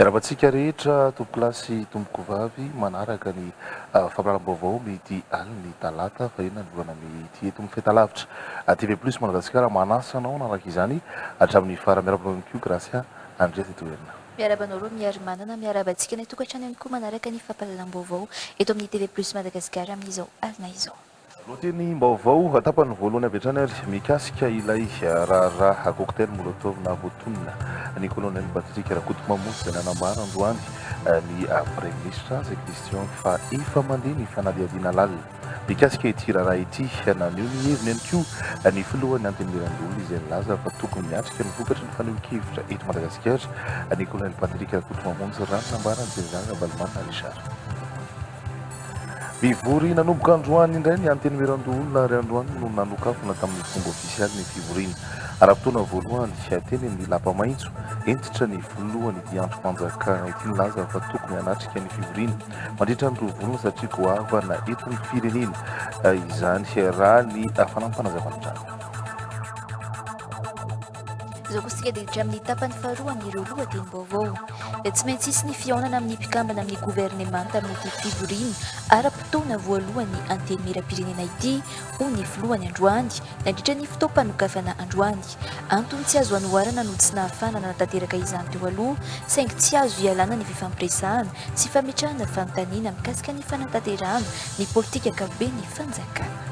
Miarahaba antsika rehetra tompokolahy sy tompokovavy manaraka ny fampiharam-baovao midi alin'ny talata faheno nanoloana ny ity eto amin'ny fahitalavitra TV plus Madagasikara manasa anao hanaraka izany hatramin'ny farany. Miarahaba anao ihany koa Gracia Andriaza eto Herina. Miarahaba anao Romiarimanana, miarahaba antsika ilay tokantrano ihany koa manaraka ny fampahalalam-baovao eto amin'ny TV plus Madagasikara amin'izao alina izao. Lohatenim-baovao tapany voalohany avy hatrany ary mikasika ilay raharaha cocktail molotov nahavoatonona ny Colonel Patrick Rakotomamosy izay nanambara androany ny Praiminisitra azy Christian fa efa mandeha ny fanadihadiana lalina mikasika ity raharaha ity. Naneho ny heviny ihany koa ny Filohan'ny Antenimierandoholona izay nilaza fa tokony miatrika ny vokatry ny fanehoan-kevitra eto Madagasikara ny Colonel Patrick Rakotomamosy raha ny nambaran'i General Ravalomanana Richard. Mivory nanomboka androany indray ny Antenimierandoholona ary androany no nanokafana tamin'ny fomba ofisialy ny fivoriana ara-potoana voalohany teny amin'ny lapa maitso hentitra ny filohan'ity andrimpanjakana ity nilaza fa tokony hanatrika ny fivoriana mandritra ny roa volana satria goavana eto ny firenena izany raha ny fanampana zava-nitranga. Izao kosa isika dia hiditra amin'ny tapany faharoa amin'ireo lohatenim-baovao. Dia tsy maintsy hisy ny fihaonana amin'ny mpikambana amin'ny governemanta amin'ity fivoriana ara-potoana voalohan'ny Antenimierampirenena ity, hoy ny filohany androany, nandritra ny fotoam-panokafana androany. Antony tsy azo anoharana no tsy nahafahana nanatanteraka izany teo aloha, saingy tsy azo ialana ny fifampiresahana sy fametrahana fanontaniana mikasika ny fanatanterahana ny politika ankapoben'ny fanjakana.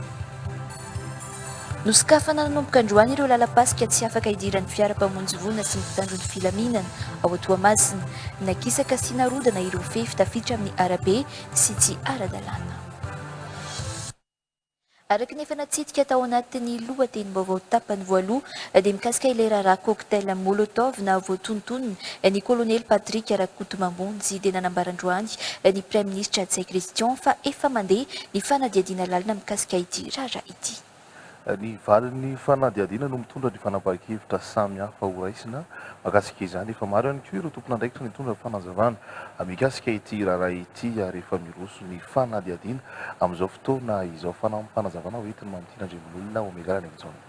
Nosokafana nanomboka androany ireo lalam-pasika tsy afaka hidiran'ny fiara mpamonjy voina sy ny mpitandro ny filaminana ao Toamasina. Nakisaka sy narodana ireo fefy tafiditra amin'ny arabe sy tsy ara-dalàna. Araka ny efa natsidika tao anatin'ny lohatenim-baovao tapany voaloha dia mikasika ilay raharaha cocktail molotov nahavoatontonina ny kolonely Patrick Rakotomambonjy dia nanambara androany ny praiminisitra Ntsay Christian fa efa mandeha ny fanadihadiana lalina mikasika ity raharaha ity. Ny valin'ny fanadihadiana no mitondra ny fanapahan-kevitra samy hafa ho raisina mahakasika izany. Efa maro ihany koa ireo tompon'andraikitra nitondra fanazavana mikasika ity raharaha ity ary efa miroso ny fanadihadiana amin'izao fotoana izao. Fanampim-panazavana hoentiny Mamitiana Andriambololona, Omega Laniaky Jaona.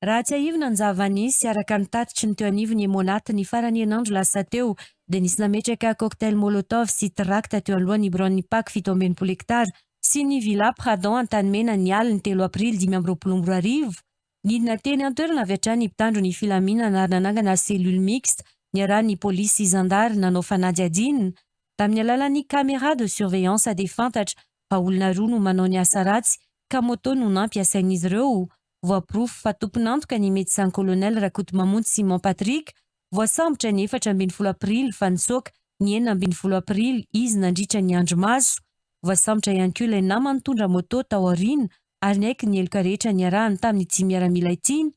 Raha tsiahivina ny zava-nisy, araka ny tatitry ny teo anivon'ny Monat, ny faran'ny herinandro lasa teo, dia nisy nametraka cocktail molotov sy trakta teo alohan'ny biraon'ny Pac fito amby enimpolo hektara sy ny Villa Pradon Antanimena ny alin'ny telo aprily dimy amby roapolo amby roa arivo. Nidina teny an-toerana avy hatrany ny mpitandro ny filaminana ary nanangana cellule mixte niarahan'ny polisy sy zandary nanao fanadihadiana. Tamin'ny alalan'ny caméra de surveillance dia fantatra fa olona roa no manao ny asa ratsy ka moto no nampiasain'izy ireo. Voaporofo fa tompon'antoka ny Médecin Colonel Rakotomamonjy Simon Patrick, voasambotra ny efatra ambin'ny folo aprily fa nitsoaka ny enina ambin'ny folo aprily izy nandritra ny andro maso. Voasambotra ihany koa ilay namany nitondra moto tao aoriana ary niaiky ny heloka rehetra niarahany tamin'ity miaramila ity.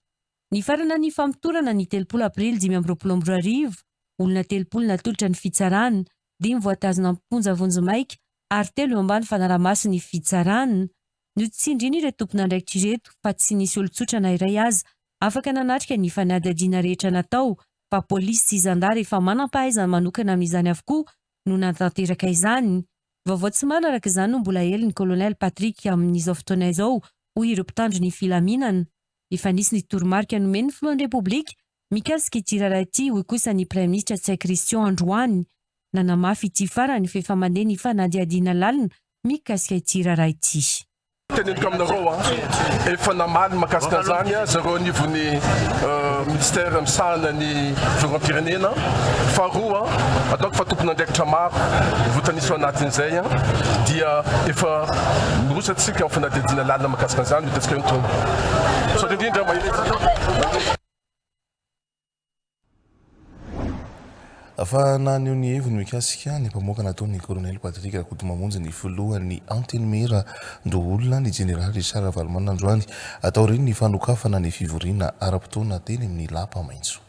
Nifarana ny famotorana ny telopolo aprily dimy amby roapolo amby roa arivo, olona telopolo natolotra ny fitsarana, dimy voatazona am-ponja vonjimaika ary telo eo ambany fanaraha-mason'ny fitsarana. Notsindrin'ireo tompon'andraikitra ireto fa tsy nisy olon-tsotra na iray aza afaka nanatrika ny fanadihadiana rehetra natao fa polisy sy zandary efa manam-pahaizana manokana amin'izany avokoa no nanatanteraka izany. Vaovao tsy marina araka izany no mbola hely ny Colonel Patrick amin'izao fotoana izao hoy ireo mpitandro ny filaminana. Efa nisy ny toromarika nomen'ny filohan'ny Repoblika mikasika ity raharaha ity, hoy kosa ny praiminisitra Tsay Christian androany. Nanamafy ity farany fa efa mandeha ny fanadihadiana lalina mikasika ity raharaha ity. Teneniko aminareo, efa namaly mahakasika an'izany zareo anivon'ny minisitera misahana ny fiarovam-pirenena. Faharoa, ataoko fa tompon'andraikitra maro voatanisa ao anatin'izay dia efa miroso antsika amin'ny fanadihadiana lalina mahakasika an'izany, hoy Tetsikay Antonio. Fa naneho ny heviny mikasika ny mpamoaka nataony ny Kolonely Patrick Rakotomamonjy ny filohan'ny Antenimiera Ndoholona ny Jeneraly Richard Ravalomanana androany taorian'ny fanokafana ny fivoriana ara-potoana teny amin'ny lapa maitso.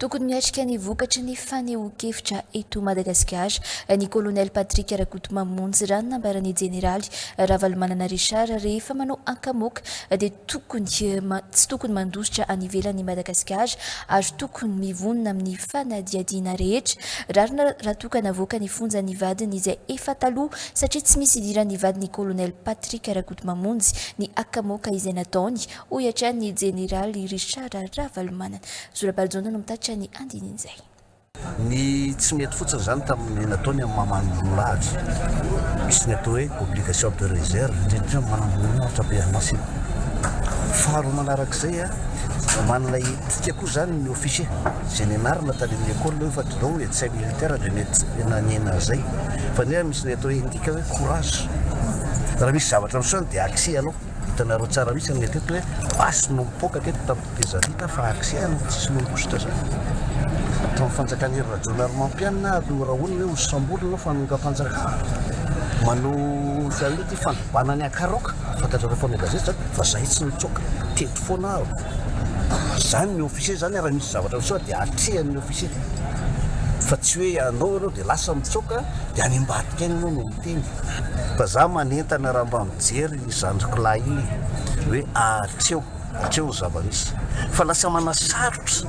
Tokony miatrika ny vokatry ny fanehoan-kevitra eto Madagasikara ny Kolonely Patrick Rakotomamonjy, raha ny nambaran'ny Jeneraly Ravalomanana Richard, rehefa manao ankamoaka dia tokony tsy tokony mandositra any ivelan'i Madagasikara ary tokony mivonona amin'ny fanadihadiana rehetra rarina raha toa ka navoaka ny fonjan'ny vadiny izay efa taloha satria tsy misy idiran'ny vadin'ny Kolonely Patrick Rakotomamonjy ny akamoaka izay nataony hoy hatrany ny jeneraly Richard Ravalomanana. Zo Rabalijaona no mitatitra ny andinin'izay. Ny tsy mety fotsiny izany tamin'ny nataony amin'ny maha-manamboninahitra, misy ny atao hoe obligation de réserve, indrindra indrindra amin'ny manamboninahitra be an'asa iny. Faharoa manarak'izay, manana etika koa izany ny officier, izay nianarana tany amin'ny école hoe fa dinao hoe tsy hay militaire dia mety nanena an'izay. Fa nefa misy ny atao hoe endika hoe courage, raha misy zavatra miseho dia axé ianao. Hitanareo tsara mihitsy ny teto hoe basy no mipoaka teto tamin'ny tetezamita fa accès an'ny tsisy mangositra zany. Tamin'ny fanjakan'i Hery Rajaonarimampianina ary norahonina hoe hosamborina ao fanongam-panjakana. Manao fialonana ity fanobana ny hakaroka. Fantatrareo mpanao gazety zany fa zahay tsy nitsoaka. Teto foana aho. Zany ny officier zany ary raha misy zavatra miseho dia atrehan'ny officier. Fa tsy hoe ianao ianao dia lasa mitsoaka dia any ambadika any ianao no miteny. Fa za manentana raha mba mijery Ry zandriko lahy ee! hoe ahatreo hatreo ny zava-misy fa lasa manasarotra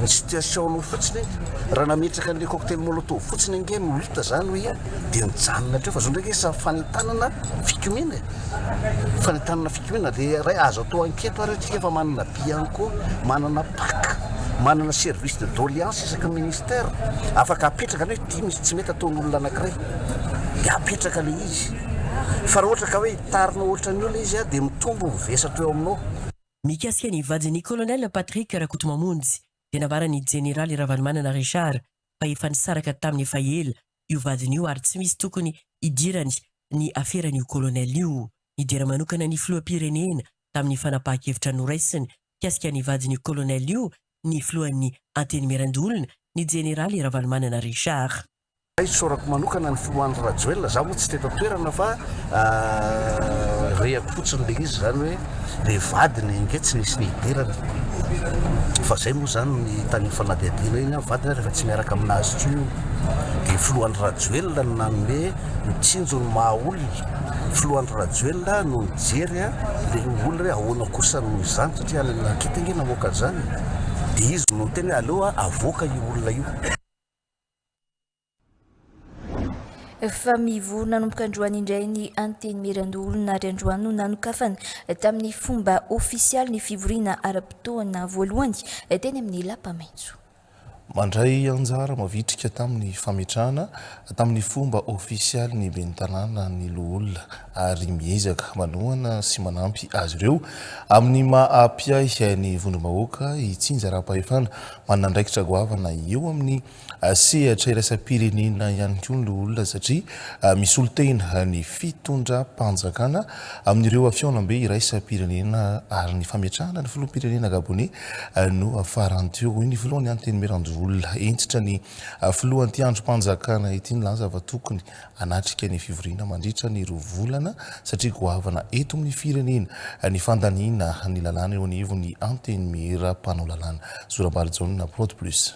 ny situation nao fotsiny ee! raha nametraka an'ilay cocktail molotov fotsiny ange no hita zany hoe ia dia nijanona hatreo fa zao ndraiky sa fanentanana fikomiana ee! fanentanana fikomiana dia iray azo atao anketo ary antsika fa manana bianco manana pac manana service de doleance isaky ny ministère afaka apetraka ny hoe ity misy tsy mety ataon'olona anakiray dia apetraka ilay izy Fa raha ohatra ka hoe hitarinao ohatran'ny olona izy dia mitombo ny vesatro eo aminao. Mikasika ny vadin'ny Colonel Patrick Rakotomamonjy dia nambaran'ny Jeneraly Ravalomanana Richard fa efa nisaraka taminy efa ela io vadiny io ary tsy misy tokony hidirany ny aferan'io Colonel io. Nidera manokana ny Filoham-pirenena tamin'ny fanapahan-kevitra noraisiny mikasika ny vadin'io Colonel io ny Filohan'ny Antenimierandoholona, ny Jeneraly Ravalomanana Richard. Hay isaorako manokana ny filoha Andry Rajoelina, za moa tsy teto an-toerana fa rehako fotsiny le izy zany hoe le vadiny ange tsy nisy ny hidirana fa zay moa zany ny tany fanadihadiana iny an, vadiny ary efa tsy miaraka aminazy tso io de filoha Andry Rajoelina no nanome ny tsinjo ny maha olona filoha Andry Rajoelina no nijery a le olona hoe ahoana kosa noho izany satria any Rakitingy namoaka an'izany dia izy no niteny hoe aleo avoaka io olona io fa mivory nanomboka androany indray ny Antenimierandoholona ary androany no nanokafana tamin'ny fomba ofisialy ny fivoriana ara-potoana voalohany teny amin'ny lapa maitso. Mandray anjara mavitrika tamin'ny fametrahana tamin'ny fomba ofisialy ny ben'ny Tanàna ny Loholona ary miezaka manohana sy manampy azy ireo amin'ny maha mpiahy ny vondrom-bahoaka i Tsinja Araham-pahefana Manana andraikitra goavana eo amin'ny sehatra iraisam-pirenena ihany koa ny loholona satria misolotena ny fitondram-panjakana amin'ireo fihaonambe iraisam-pirenena ary ny fametrahana ny filoham-pirenena gaboney no farany teo, hoy ny filohan'ny Antenimierandoholona. Hentitra ny filoha anti-andrim-panjakana ity nilaza fa tokony Hanatrika ny fivoriana mandritra ny roa volana satria goavana eto amin'ny firenena ny fandaniana ny lalàna eo anivon'ny Antenimiera mpanao lalàna. Zorambary Jaona, Prod Plus.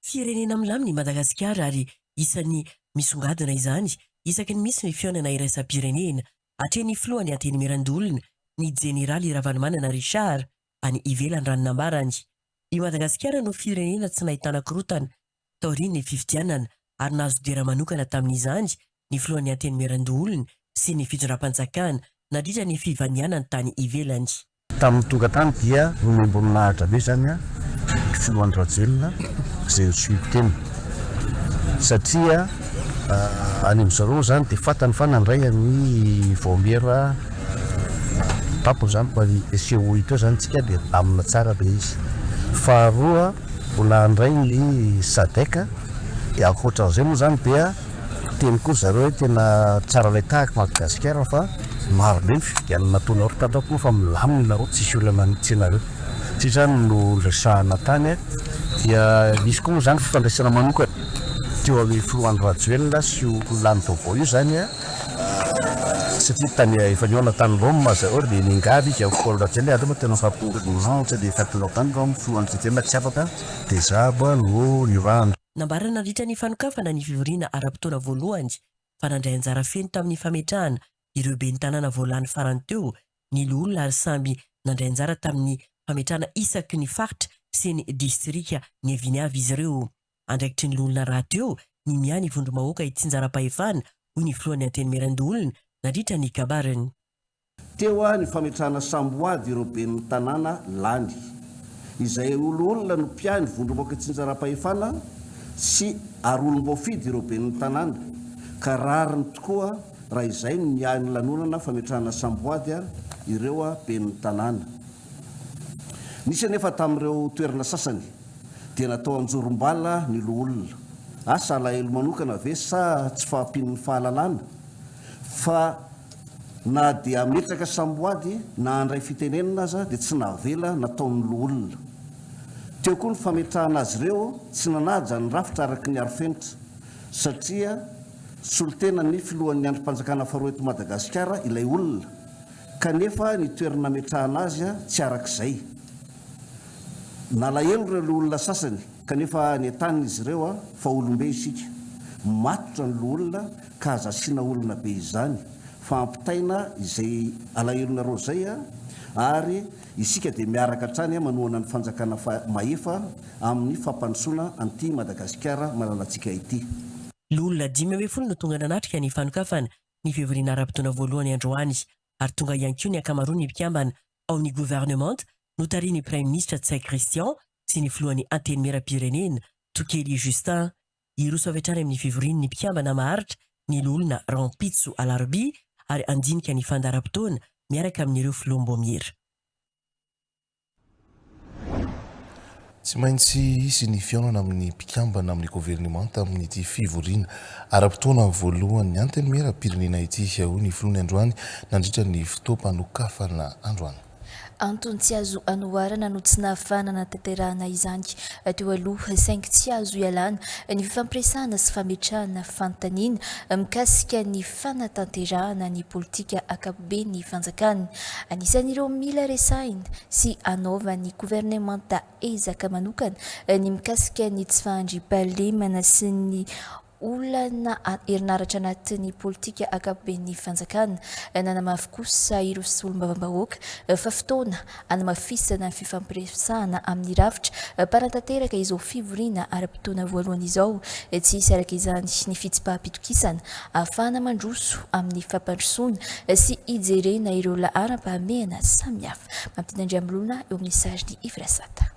Firenena milamina i Madagasikara ary isan'ny misongadina izany isaky ny misy ny fihaonana iraisam-pirenena. Atrehin'ny filohan'ny Antenimieran-doholona, ny Jeneraly Ravalomanana Richard, any ivelany raha ny nambarany. I Madagasikara no firenena tsy nahitana korontana taorian'ny fifidianana ary nahazo dera manokana tamin'izany ny filohan'ny Antenimierandoholona sy ny fitondram-panjakana nandritra ny fivanianany tany ivelany. Tamin'ny tonga tany dia nomem-boninahitra be izany ny filoha Andry Rajoelina izay nisioko teny satria any amin-dry zareo moa izany dia fantany fa nandray an'i Vaomiera. Tampoka izany mba hisehoa hita eo izany isika dia milamina tsara ilay izy. Faharoa, mbola handray ny Sadec dia ankoatran'izay moa izany dia teny koa ry zareo hoe tena tsara ilay tahaka i Madagasikara fa maro be ny fifidianana nataonareo tato ato moa fa milamina ianareo tsisy olana mihitsy ianareo. Ity izany no niresahana tany dia nisy koa moa izany fifandraisana manokana teo amin'ny filoha Andry Rajoelina sy io lany vaovao io izany. satria tany efa nihaona tany Roma zay ohatra dia niangavy izy amin'i Paoly Rajoelina hoe aleo tena mifampitondra ny lanitra dia mifampitondra tany Roma fony hoan'ny Kristiana tsy afaka dia zabo no niorahana. Nambara nandritra ny fanokafana ny fivoriana ara-potoana voalohany fa nandray anjara feno tamin'ny fametrahana ireo ben'ny tanàna vao lany farany teo ny loholona ary samby nandray anjara tamin'ny fametrahana isaky ny faritra sy ny distrika niaviany avy izy ireo. andraikitry ny loholona rahateo ny miahy ny vondrom-bahoaka itsinjaram-pahefana, hoy ny filohan'ny Antenimierandoholona nandritra ny kabariny. Teo aho ny fametrahana samboady ireo ben'ny tanàna lany, izay ho loholona no mpiahy ny vondrom-bahoaka itsinjaram-pahefana sy ary olom-boafidy ireo ben'ny tanàna ka rariny tokoa raha izay no miahy ny lanonana fametrahana samboady ireo ben'ny tanàna. Nisy anefa tamin'ireo toerana sasany dia natao anjorom-bala ny loholona. Asa alahelo manokana ve sa tsy fahampian'ny fahalalana fa na dia hametraka samboady na handray fitenenana aza dia tsy navela nataon'ny loholona. Teo koa ny fametrahana azy ireo tsy nanaja ny rafitra araka ny arofenitra satria solontenan'ny filohan'ny andrim-panjakana faharoa eto Madagasikara ilay olona kanefa ny toerana nametrahana azy tsy araka izay. Nalahelo ireo loholona sasany kanefa nentanin' izy ireo fa olom-be isika, matotra ny loholona ka aza asiana olona be izany fa ampitaina izay alahelonareo izay ary isika dia miaraka hatrany manohana ny fanjakana mahefa amin' ny fampandrosoana an'ity Madagasikara malalantsika ity. Loholona dimy ambin'ny folo no tonga nanatrika ny fanokafana ny fivoriana ara-potoana voalohany androany ary tonga ihany koa ny ankamaroan'ny mpikambana ao amin'ny governemanta notarihin'ny praiminisitra Ntsay Christian sy ny filohan'ny Antenimierampirenena Tokely Justin. Hiroso avy hatrany amin'ny fivoriany ny mpikambana maharitra ny loholona rahampitso alarobia ary handinika ny fandaharam-potoana miaraka amin'ireo filoham-boamiera. Tsy maintsy hisy ny fihaonana amin'ny mpikambana amin'ny governemanta amin'ity fivoriana ara-potoana voalohan'ny Antenimieram-pirenena ity, hoy ny filoha ny androany nandritra ny fotoam-panokafana androany. Antony tsy azo anoharana no tsy nahafahana nanatanterahana izany teo aloha, saingy tsy azo ialana ny fifampiresahana sy fametrahana fanontaniana mikasika ny fanatanterahana ny politika ankapobeny. be ny fanjakana. Anisan'ireo mila resahina sy anaovan'ny governemanta ezaka manokana ny mikasika ny tsy fahandriampahalemana sy ny olana herinaratra anatin'ny politika ankapoben'ny fanjakana. Nanamafy kosa ireo solombavambahoaka fa fotoana hanamafisana ny fifampiresahana amin'ny rafitra mpanatanteraka izao fivoriana ara-potoana voalohany izao. Tsy hisy araka izany ny fitsipaham-pitokisana ahafahana mandroso amin'ny fampandrosoana sy hijerena ireo laharam-pahamehana samihafa. Mampidi Andriamolona eo amin'ny sarin'i Yves Rasata.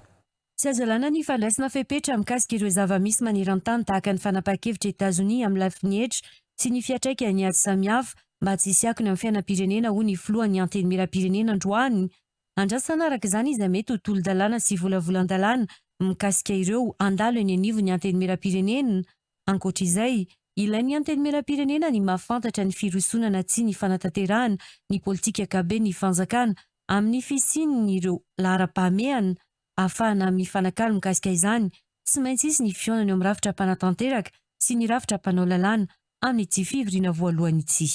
Tsy azo alàna ny fandraisana fepetra mikasika ireo zava-misy maneran-tany tahaka ny fanapahan-kevitr'i Etazonia amin'ny lafiny hetra sy ny fiantraikan'ny ady samihafa mba tsy hisy akony amin'ny fiainam-pirenena, hoy ny filohan'ny Antenimierampirenena androany. Andrasana araka izany izay mety ho tolo-dalàna sy volavolan-dalàna mikasika ireo handalo eny anivon'ny Antenimierampirenena. Ankoatra izay, ilain'ny Antenimierampirenena ny mahafantatra ny firosoana na tsia ny fanatanterahana ny politika gaben'ny fanjakana amin'ny fisian'ireo laharam-pahamehana ahafahana mifanakalo mikasika izany. Tsy maintsy hisy ny fihaonana eo amin'ny rafitra mpanatanteraka sy ny rafitra mpanao lalàna amin'ity fivoriana voalohany ity.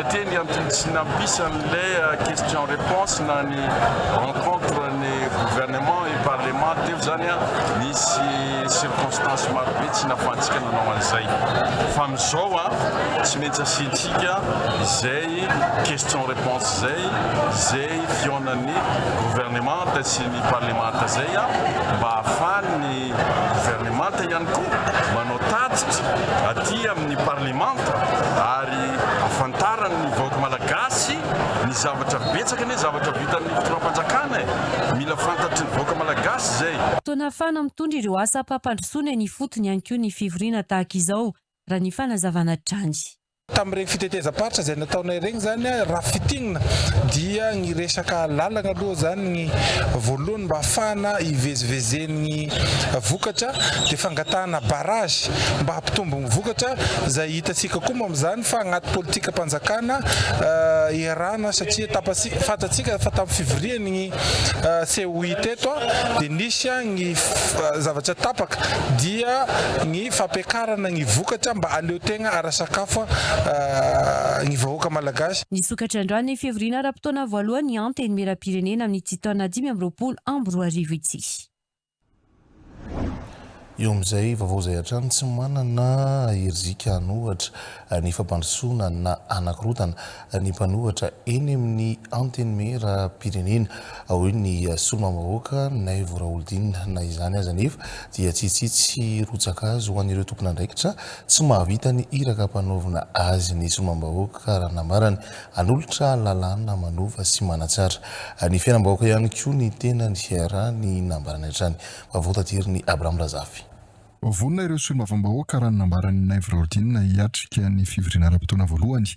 Satria ny antony tsy nampisan'ilay question réponse na ny rencontre ny gouvernement et parlement teo zany nisy circonstances maro be tsy nafahantsika nanao an'izay. Fa amizao tsy maintsy asiantsika izay question réponse zay, izay fihaonan'ny gouvernementa sy ny parlementa zay mba ahafahan'ny. ny governemanta ihany koa manao tatitra aty amin'ny parlemanta ary ahafantarany ny vahoaka malagasy ny zavatra betsaka anie zavatra vitan'ny fitondram-panjakana e! mila fantatry ny vahoaka malagasy izay. Toa nahafahana mitondra ireo asam-pampandrosoana eny ifotony ihany koa ny fivoriana tahaka izao, raha ny fanazavana hatrany. Tamin'ireny fitetezam-paritra izay nataonay ireny izany, raha fintinina dia ny resaka lalana aloha izany ny voalohany mba hahafahana hivezivezen'ny vokatra dia fangatahana barrage mba hampitombo ny vokatra izay hitantsika koa moa amin'izany fa anaty politikam-panjakana iarahana satria tapatsika, fantatsika fa tamin'ny fivorian'ny COI teto dia nisy ny zavatra tapaka dia ny ny fampiakarana ny vokatra mba aleo tegna ara sakafo ny vahoaka malagasy. Nisokatra androany ny fivoriana ara-potoana voalohany ny Antenimierampirenena amin'ity taona dimy amby roapolo amby roa arivo ity. Eo amin'izay vaovao izay hatrany tsy manana herizika hanohatra ny fampandrosoana na hanakorontana ny mpanohatra eny amin'ny Antenimieram-pirenena hoe ny Solombavam-bahoaka Naivo Raholdina. Na izany aza anefa dia tsy hitsitsy rotsaka azy ho an'ireo tompon'andraikitra tsy mahavita ny iraka ampanaovina azy ny Solombavam-bahoaka raha nambarany hanolotra lalàna manova sy manatsara ny fiainam-bahoaka ihany koa ny tenany raha ny nambarany hatrany. Vaovao taterin'i Abraham Razafy. Vonona ireo Solombavam-bahoaka raha ny nambaran'i Naivo Raholdina hiatrika ny fivoriana ara-potoana voalohany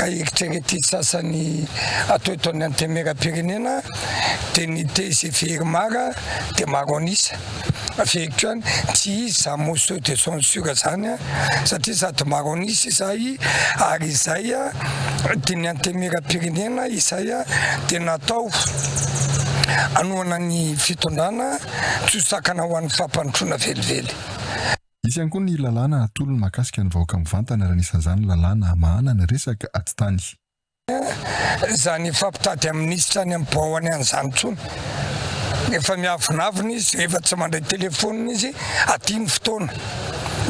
Ka eritreretin'ny sasany atao eto amin'ny Antenimierampirenena dia ny tgv Irmar dia maro an'isa. Fehiko ihany, tsy izy izany motion de censure izany satria sady maro an'isa izay ary izay dia ny Antenimierampirenena izay dia natao hanohana ny fitondrana tsy ho sakana ho an'ny fampandrosoana velively. Hisy ihany koa ny lalàna hatolony mahakasika ny vahoaka mivantana raha anisan'izany lalàna hamahana ny resaka atitany. Tsy izany fampitady amin'ny minisitra any am-poany any izany intsony. Efa miavonavona izy rehefa tsy mandray telefaonina izy aty ny fotoana.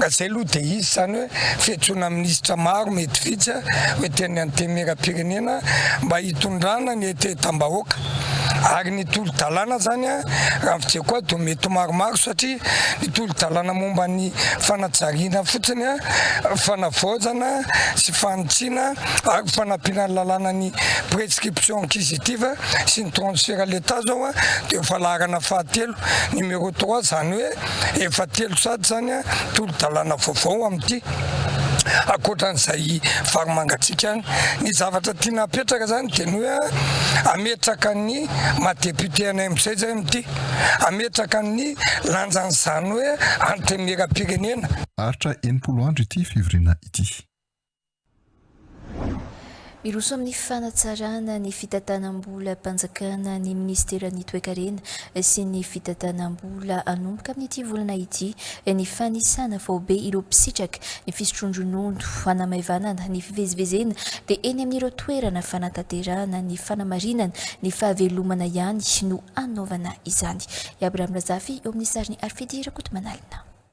Ka izay aloha dia hisy izany hoe fiantsoana minisitra maro mety vitsy ho ety amin'ny antenimieram-pirenena mba hitondrana ny hetehetam-bahoaka. ary ny tolo-dalàna zany a, raha ny fijeiko ahy dia mety ho maromaro satria ny tolo-dalàna momba ny fanajariana fotsiny a, fanavaozana sy fanitsiana ary fanampiana ny lalàna ny prescription inquisitive sy ny transfert à l'Etat zao a, dia efa laharana fahatelo, numéro trois, zany hoe. Efa telo sady izany tolo-dalàna vaovao amin'ity, ankoatra an'izay varimangatsiaka any. Ny zavatra tiana hapetraka izany dia ny hoe hametraka ny maha député anay amin'izay izay amin'ity, hametraka ny lanjan'izany hoe antenimieram-pirenena. Aritra enimpolo andro ity fivoriana ity. Miroso amin'ny fanatsarana ny fitantanam-bolam-panjakana ny minisiteran'ny Toekarena sy ny fitantanam-bola hanomboka amin'ity volana ity ny fanisana faobe ireo mpisitraka ny fisotroan-dronono hanamaivanana ny fivezivezena dia eny amin'ireo toerana fanatanterahana ny fanamarinana ny fahavelomana ihany no hanaovana izany. I Abraham Razafy eo amin'ny sarin'i Arfidy Rakotomanalina.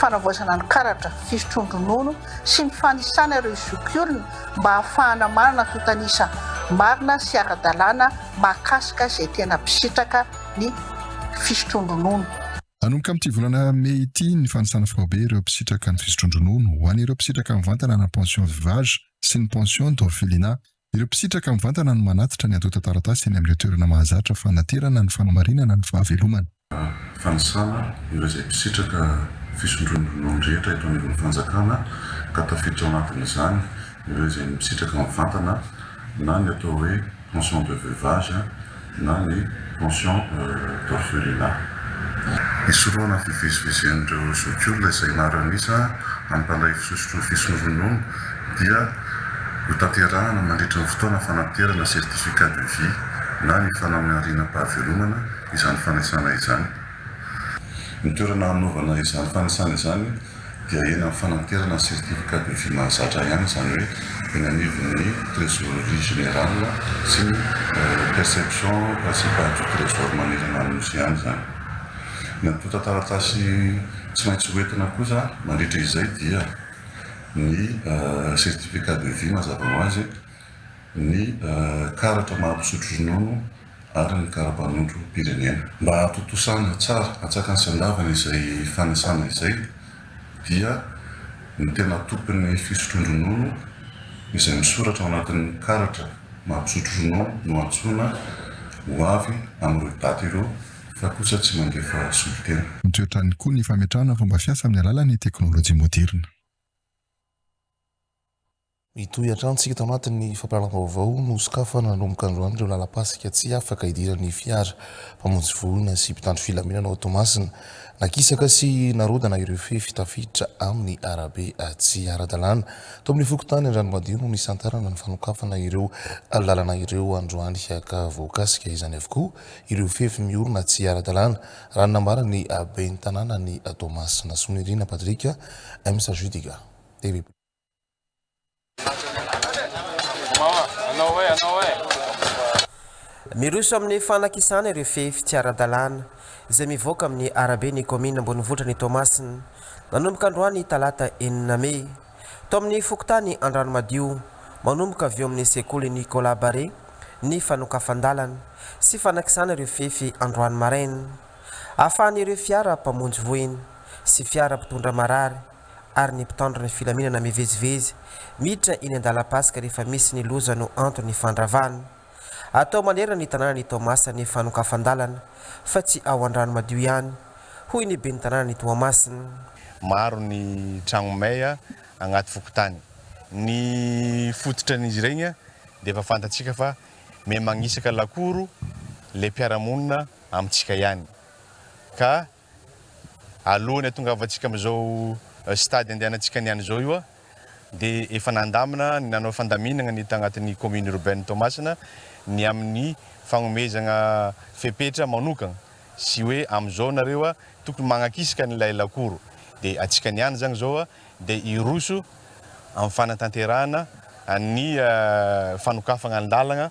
fanavaozana ny karatra fisotroan-dronono sy ny fanisana ireo zokiolona mba hahafahana manana antontan'isa marina sy ara-dalàna mahakasika izay tena mpisitraka ny fisotroan-dronono. Hanomboka amin'ity volana mey ity ny fanisana faobe ireo mpisitraka ny fisotroan-dronono ho an'ireo mpisitraka mivantana na pension veuvage sy ny pension d'orphelinat Ireo mpisitraka mivantana no manatitra ny antontan-taratasy eny amin'ireo toerana mahazatra fanaterana ny fanamarinana ny fahavelomana. Fanisana ireo izay mpisitraka fisondroan'ny ronono rehetra eto anivon'ny fanjakana ka tafiditra ao anatin'izany ireo izay misitraka mivantana na ny atao hoe pension de veuvage, na ny pension d'orphelinat. Hisorohana ny fivezivezen'ireo zokiolona izay hianaran'isa amin'ny mpandray fisosotra ny fisoronony dia hotanterahana mandritra ny fotoana fanaterana certificat de vie na ny fanamarinam-pahavelomana izany fanisana izany. Ny toerana hanaovana izany fanisana izany dia eny amin'ny fananterana ny certificat de vie mahazatra ihany, izany hoe eny anivon'ny trésorerie générale sy ny perception principale du trésor manerana ny Nosy ihany izany. Natonta taratasy tsy maintsy hoentina kosa mandritra izay dia ny certificat de vie mazava ho azy, ny karatra maha mpisotro ronono, ary ny karapanondrom-pirenena. Mba hatontosana tsara an-tsakany sy an-davany izay fanisana izay dia ny tena tompon'ny fisotroan-dronono izay misoratra ao anatin'ny karatra maha mpisotro ronono no antsoina ho avy amin'ireo daty ireo fa kosa tsy mandefa solontena. Mitroatra ihany koa ny fametrahana fomba fiasa amin'ny alalan'ny teknolojia moderina. Mitohy hatrany isika tao anatin'ny fampiralam-baovao nosokafana nanomboka androany ireo lalampasika tsy afaka hidiran'ny fiara mpamonjy voina sy mpitandro filaminana ao Toamasina. Nakisaka sy narodana ireo fefy tafiditra amin'ny arabe tsy ara-dalàna. Tao amin'ny fokontany Andranomadio no nisantarana ny fanokafana ireo lalana ireo androany ka voakasika izany avokoa ireo fefy miorina tsy ara-dalàna, raha ny nambaran'ny ben'ny tanànan'i Toamasina, Soanirina Patrick, msgdga. Miroso amin'ny fanakisana ireo fefy tsy ara-dalàna izay mivoaka amin'ny arabe ny kaominina ambonivohitra ny Toamasina, nanomboka androany talata enina mey. Tao amin'ny fokontany Andranomadio, manomboka avy eo amin'ny sekoly Nicolas Barré ny fanokafan-dalana sy fanakisana ireo fefy androany maraina. Ahafahan'ireo fiara mpamonjy voina sy fiara mpitondra marary ary ny mpitandro ny filaminana mivezivezy miditra eny an-dalam-pasika rehefa misy ny loza no anton'ny fandravana. Atao manerana ny tanàna ny Taomasa ny fanokafan-dalana fa tsy ao Andranomadio ihany, hoy ny ben'ny tanànan'i Toamasina. Maro ny tragno may agnaty fokontany. Ny fototran'izy iregny dia efa fantatsika fa miha magnisaka lakoro le mpiara-monina amintsika ihany ka alohan'ny hatongavantsika amin'izao stade andehanantsika ny any izao io a, dia efa nandamina ny nanao fandaminana ny tagnatin'ny commune urbaine Toamasina ny amin'ny fagnomezagna fepetra manokagna sy hoe amin'izao nareo a tokony magnakisaka an'ilay lakoro dia antsika ny any zagny zao a dia hiroso amin'ny fanatanterahana ny fanokafagna ny lalagna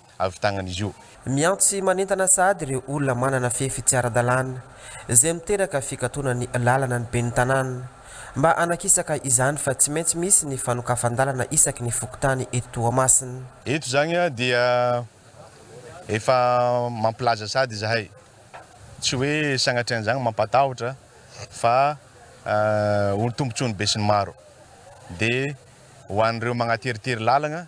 avy tagnan'izy io. Miantsy manentana sahady ireo olona manana fefy tsy ara-dalàna, izay miteraka fikatonan'ny làlana ny ben'ny tanàna, mba hanakisaka izany fa tsy maintsy misy ny fanokafan-dàlana isaky ny fokontany eto Toamasina. Eto izany dia efa mampilaza sahady izahay, tsy hoe sanatrian'izany mampatahotra fa ho tombontsoan'ny besinimaro, dia ho an'ireo magnateritery làlana,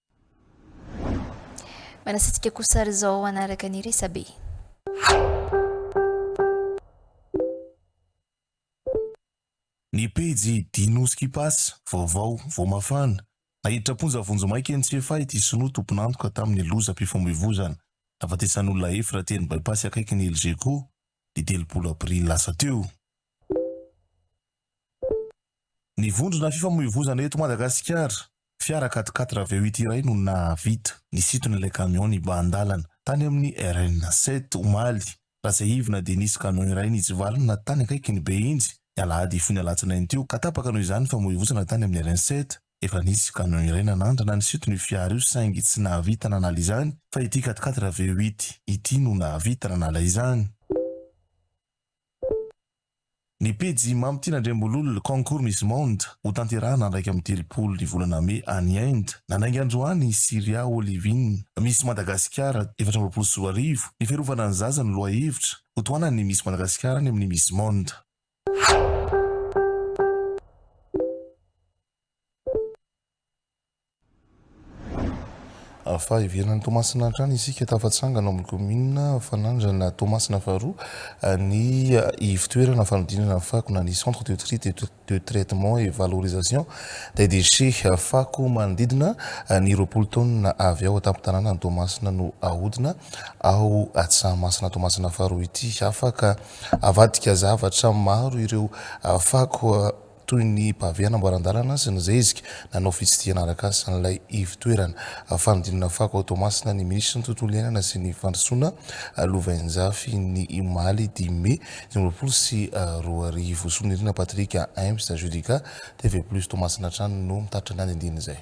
Manasitrika kosa ary izao hanaraka ny resabe. Ny pejy Dino's Kipas, vaovao, vao mafana, Naiditra am-ponja vonjimaika eny Tsiafahy ity sinoa tompon'antoka tamin'ny lozam-pifamoivoizana nahafatesan'olona efatra teny Bypass akaikin'ny Elgeco, ny telopolo aprily lasa teo. Ny vondrona fifamoivozana eto Madagasikara, fiara quatre quatre avy ao ity iray no nahavita nisintona ilay kamiao nibahan-dalana tany amin'ny RN sept omaly ratsiahivina dia nisy kamiao iray nitsivalona tany akaikiny be injy ny alahady fony alatsinainy teo ka tapaka noho izany fifamoivozana tany amin'ny RN sept efa nisy kamiao iray nanandrana nisintona io fiara io saingy tsy nahavita nanala izany fa ity quatre quatre avy ao ity ity no nahavita nanala izany. Ny pejy Mamy Tiana Andriambololona, Concours Miss Monde, hotanterahina andraika amin'ny telopolo ny volana mey any Inde. Nandainga androany i Syria Olivine, Miss Madagasikara efatra amby roapolo sy roa arivo, ny fiarovana ny zaza no lohahevitra hotohanan'ny Miss Madagasikara any amin'ny Miss Monde. Fa heveran'i Toamasina hatrany isika, tafatsangana ao amin'ny kaominina Fanandrana Toamasina faharoa ny ivotoerana fanodinana ny fako na ny centre de tri, de traitement et valorisation des déchets. Fako manodidina ny roapolo taonina avy ao an-tampon-tanànan'i Toamasina no ahodina ao Tsahamasina Toamasina faharoa ity. Afaka avadika zavatra maro ireo fako. toy ny pave hanamboaran-dalana sy ny zezika, nanao fitsidihana arakasa an'ilay ivo-toerana. Fanodinana fako ao Toamasina ny minisitry ny Tontolo iainana sy ny Fandrosoana, Lovainjafy, ny omaly dimy mey dimy amby roapolo sy roa arivo. Sonirina Patrick, Aimps, Judica, TV Plus Toamasina hatrany no mitatitra ny andindinin'izay.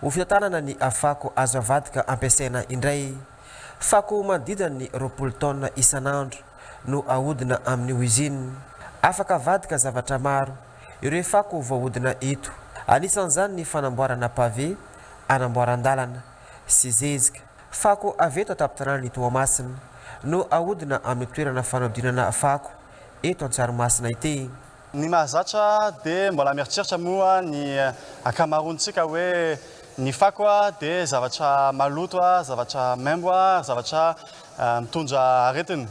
Ho fitantanana ny fako azo avadika ampiasaina indray. Fako manodidina ny roapolo taonina isan'andro no ahodina amin'ny oizinina. Afaka avadika zavatra maro ireo fako voahodina eto. Anisan'izany ny fanamboarana pavé, anamboaran-dalana, sy zezika. Fako avy eto an-tampon-tanànan'i Toamasina no ahodina amin'ny toerana fanodinana fako eto Antsarimasina ity. Ny mahazatra dia mbola mieritreritra moa ny ankamaroantsika hoe ny fako dia zavatra maloto, zavatra maimbo ary zavatra mitondra aretina.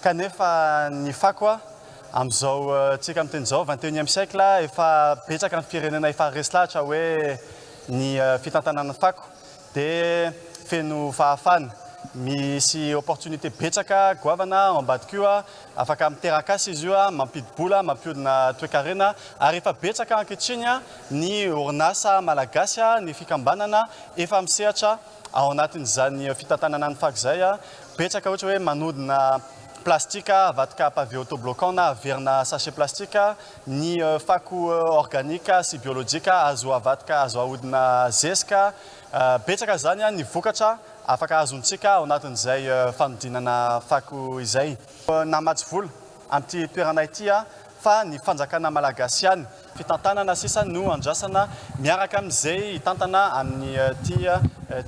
Kanefa ny fako amin'izao tsika amin'ny teny izao vingt et unième siècle efa betsaka ny firenena efa resy lahatra hoe ny fitantanana fako dia feno fahafana, misy opportunité betsaka goavana ao ambadika io, afaka miteraka asa izy io, mampidi-bola, mampihodina toekarena, ary efa betsaka ankehitriny ny orinasa malagasy, ny fikambanana efa misehatra ao anatin'izany fitantanana ny fako izay, betsaka ohatra hoe manodina plastika, avadika pavé autobloquant na averina sachet plastique, Ny fako organika sy biolojika azo avadika, azo ahodina zezika. Betsaka izany ny vokatra afaka azontsika ao anatin'izay fanodinana fako izay. Namatsy vola amin'ity toerana ity aho fa ny fanjakana malagasy ihany. Fitantanana sisa no andrasana miaraka amin'izay hitantana amin'ity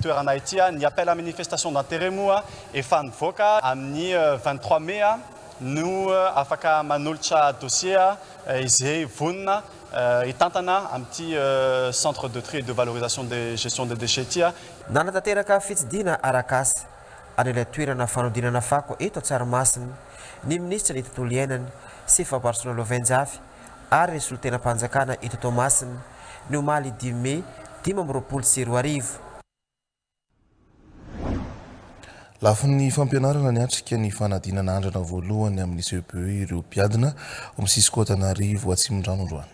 toerana ity. Ny appel à minifestation d'interet moa efa nivoaka amin'ny vingt trois mai. no afaka manolotra dossier izay vonona hitantana amin'ity Centre de tri et de valorisation de gestion des déchets ity. Nanatanteraka fitsidihina arak'asa any ilay toerana fanodinana fako eto Tsaramasina ny minisitry ny Tontolo iainana sy fampandrosoana Lovenjafy ary ny solontenam-panjakana eto Toamasina ny omaly dimy mey dimy amby roapolo sy roa arivo. Lafiny fampianarana niatrika ny fanadinana andrana voalohany amin'ny CEPE ireo mpiadina ao amin'ny Cisco Antananarivo Atsimondrano androany.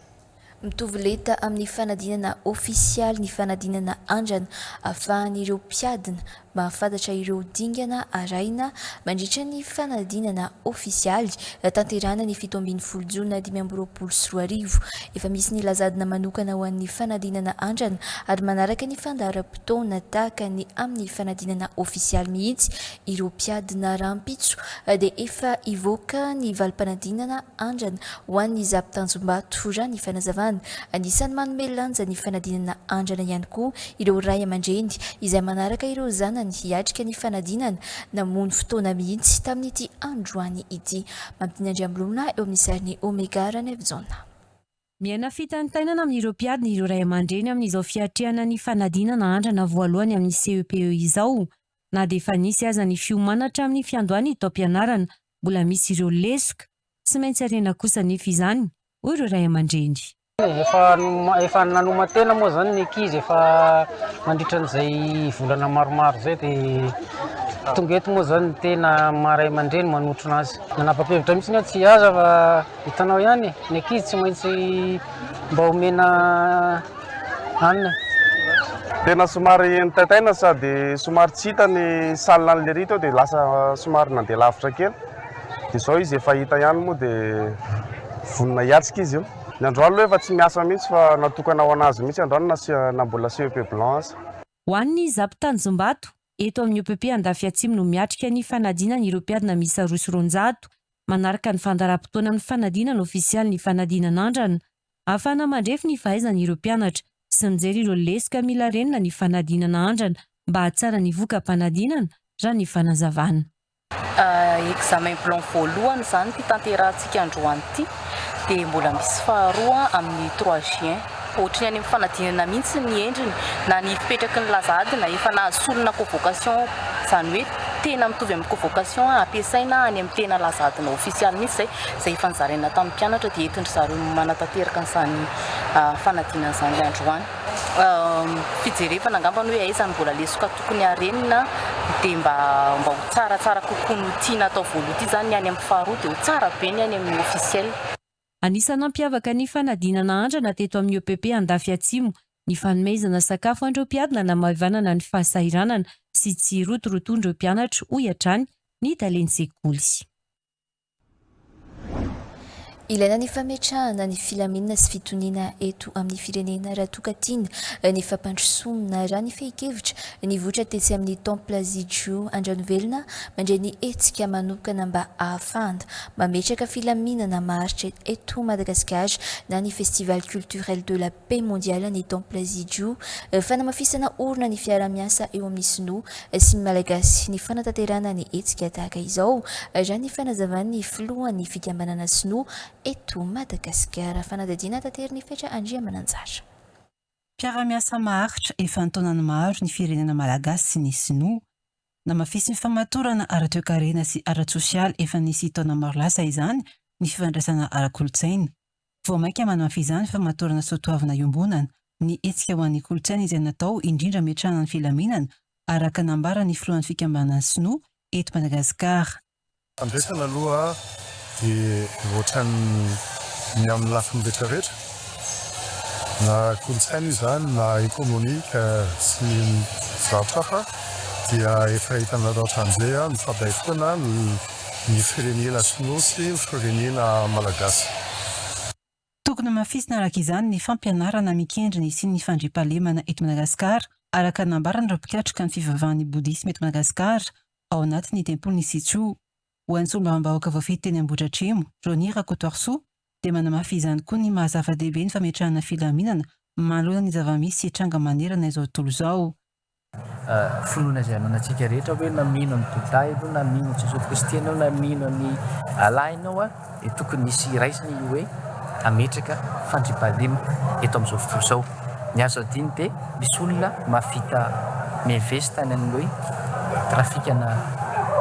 Mitovy lenta amin'ny fanadinana ofisialy ny fanadinana andrana ahafahan'ireo mpiadina mahafantatra ireo dingana arahina mandritra ny fanadinana ofisialy tanterahana ny fito ambin'ny folo jona dimy amby roapolo sy roa arivo. Efa misy ny lazadina manokana ho an'ny fanadinana andrana ary manaraka ny fandaharam-potoana. taona-potoana tahaka ny amin'ny fanadinana ofisialy mihitsy ireo mpiadina rahampitso dia efa hivoaka ny valim-panadinana andrana ho an'ny za mpitanjom-bato raha ny fanazavana. Anisan'ny manome lanja ny fanadinana andrana ihany koa ireo ray aman-dreny izay manaraka ireo zanany hiatrika ny fanadinana namono fotoana mihitsy tamin'ity androany ity. Mampidinandriamlona eo amin'ny sarin'i Omega Ranevijona. Miaina fitantainana amin'ireo mpiadina ireo ray aman-dreny amin'izao fiatrehana ny fanadinana andrana voalohany amin'ny CEPE izao. Na dia efa nisy aza ny fiomana hatramin'ny fiandohan'ny taom-pianarana, mbola misy ireo lesoka. Tsy maintsy harena kosa anefa izany, hoy ireo ray aman-dreny. Efa efa nanoman-tena moa izany ny ankizy efa mandritra an'izay volana maromaro izay dia tonga eto moa izany ny tena maha ray aman-dreny manotrona azy. Nanapa-kevitra mihitsy aho tsy hiasa fa. Hitanao ihany e, ny ankizy tsy maintsy mba omena hanina. Tena somary nitaitaina sady somary tsy hita ny salle an'i Lery teo dia lasa somary nandeha lavitra kely. Dia izao izy efa hita ihany moa dia vonona hiatrika izy io. Ny androany aloha efa tsy miasa mihitsy fa natokana ho an'azy mihitsy androany na mbola CEP blanc aza. Ho an'ny Zapitanjombato, Eto amin'ny OPP Andafy Atsimo no miatrika ny fanadinana ireo mpiadina miisa roa sy roanjato. Manaraka ny fandaharam-potoana amin'ny fanadinana ofisialy ny fanadinana andrana. Ahafahana mandrefy ny fahaizany ireo mpianatra sy mijery ireo lesoka mila renina ny fanadinana andrana mba hahatsara ny voka-panadinana, raha ny fanazavana. Examen blanc voalohany izany ity tanterahantsika androany ity dia mbola misy faharoa amin'ny trois juin. Ohatry ny any amin'ny fanadinana mihitsy ny endriny na ny fipetraky ny laza adina efa nahazo solona convocation izany hoe tena mitovy amin'ny convocation ampiasaina any amin'ny tena laza adina ofisialy mihitsy izay izay efa nozaraina tamin'ny mpianatra dia entin-dry zareo manatanteraka an'izany fanadinana izany androany. fijerevana angamba ny hoe aiza no vola lesoka tokony harenina dia mba mba ho tsara tsara kokoa no tiana atao voaloha ity zany ny any amin'ny faharoa dia ho tsara be ny any amin'ny officiel. Anisan'ny nampiavaka ny fanadinana andrana teto amin'ny EPP Andafy Atsimo ny fanomezana sakafo an'ireo mpiady nanamaivanana ny fahasahiranana sy tsy rotiroton'ireo mpianatra, hoy hatrany ny talen'ny sekoly. Ilaina ny fametrahana ny filaminana sy fitoniana eto amin'ny firenena raha toa ka tiana eh, ny fampandrosoana raha ny fehin-kevitra nivoitra tetsy amin'ny Temple Zijou Andranovelona mandray ny hetsika manokana mba ahafahana mametraka filaminana maharitra eto Madagasikara na ny Festival culturel de la Paix Mondiale ny Temple Zijuu, fanamafisana orina ny fiaraha-miasa eo amin'ny Sinoa sy ny Malagasy ny fanatanterahana ny hetsika tahaka izao, raha ny fanazavan'ny filohan'ny fikambanana Sinoa eto Madagasikara, Fanadihadiana Taterin'i Fetra Andriamananjara. Mpiara-miasa maharitra efa an-taonany maro ny firenena Malagasy sy ny Sinoa. Namafisin'ny famatorana ara-toekarena sy ara-tsosialy efa nisy taona maro lasa izany ny fifandraisana ara-kolontsaina. Vao mainka manampy izany famatorana soatoavina iombonana ny hetsika ho an'ny kolontsaina izay natao indrindra hametrahana ny filaminana, araka nambaran'ny filohan'ny fikambanana sinoa eto Madagasikara. Fandraisana aloha dia ohatran'ny ny amin'ny lafiny retraretra, na kolontsaina izany na ekonomika sy ny zavatra hafa dia efa hitanareo hatramin'izay, mifandray foana ny. ny firenena sinoa sy ny firenena malagasy. Tokony hamafisina araka izany ny fampianarana mikendry ny hisian'ny fandriampahalemana eto Madagasikara, araka ny nambaran'ireo mpikatroka ny fivavahan'ny Bodisma eto Madagasikara, ao anatin'ny tempolin'i Sichuo. Ho an'ny solombavambahoaka voafidy teny Ambohidratrimo, Johnny Rakotoarisoa, dia manamafy izany koa ny maha zava-dehibe ny fametrahana filaminana manoloana ny zava-misy sy tranga manerana izao tontolo izao. Finoana izay ananantsika rehetra hoe na mino an'i Bouddha ianao na mino an'i Jesoa Kristy ianao na mino an'i Allah ianao dia tokony hisy hiraisana io hoe hametraka fandriampahalemana eto amin'izao fotoana izao. Ny azo adino dia misy olona mahavita mi-invest any amin'ny hoe trafikana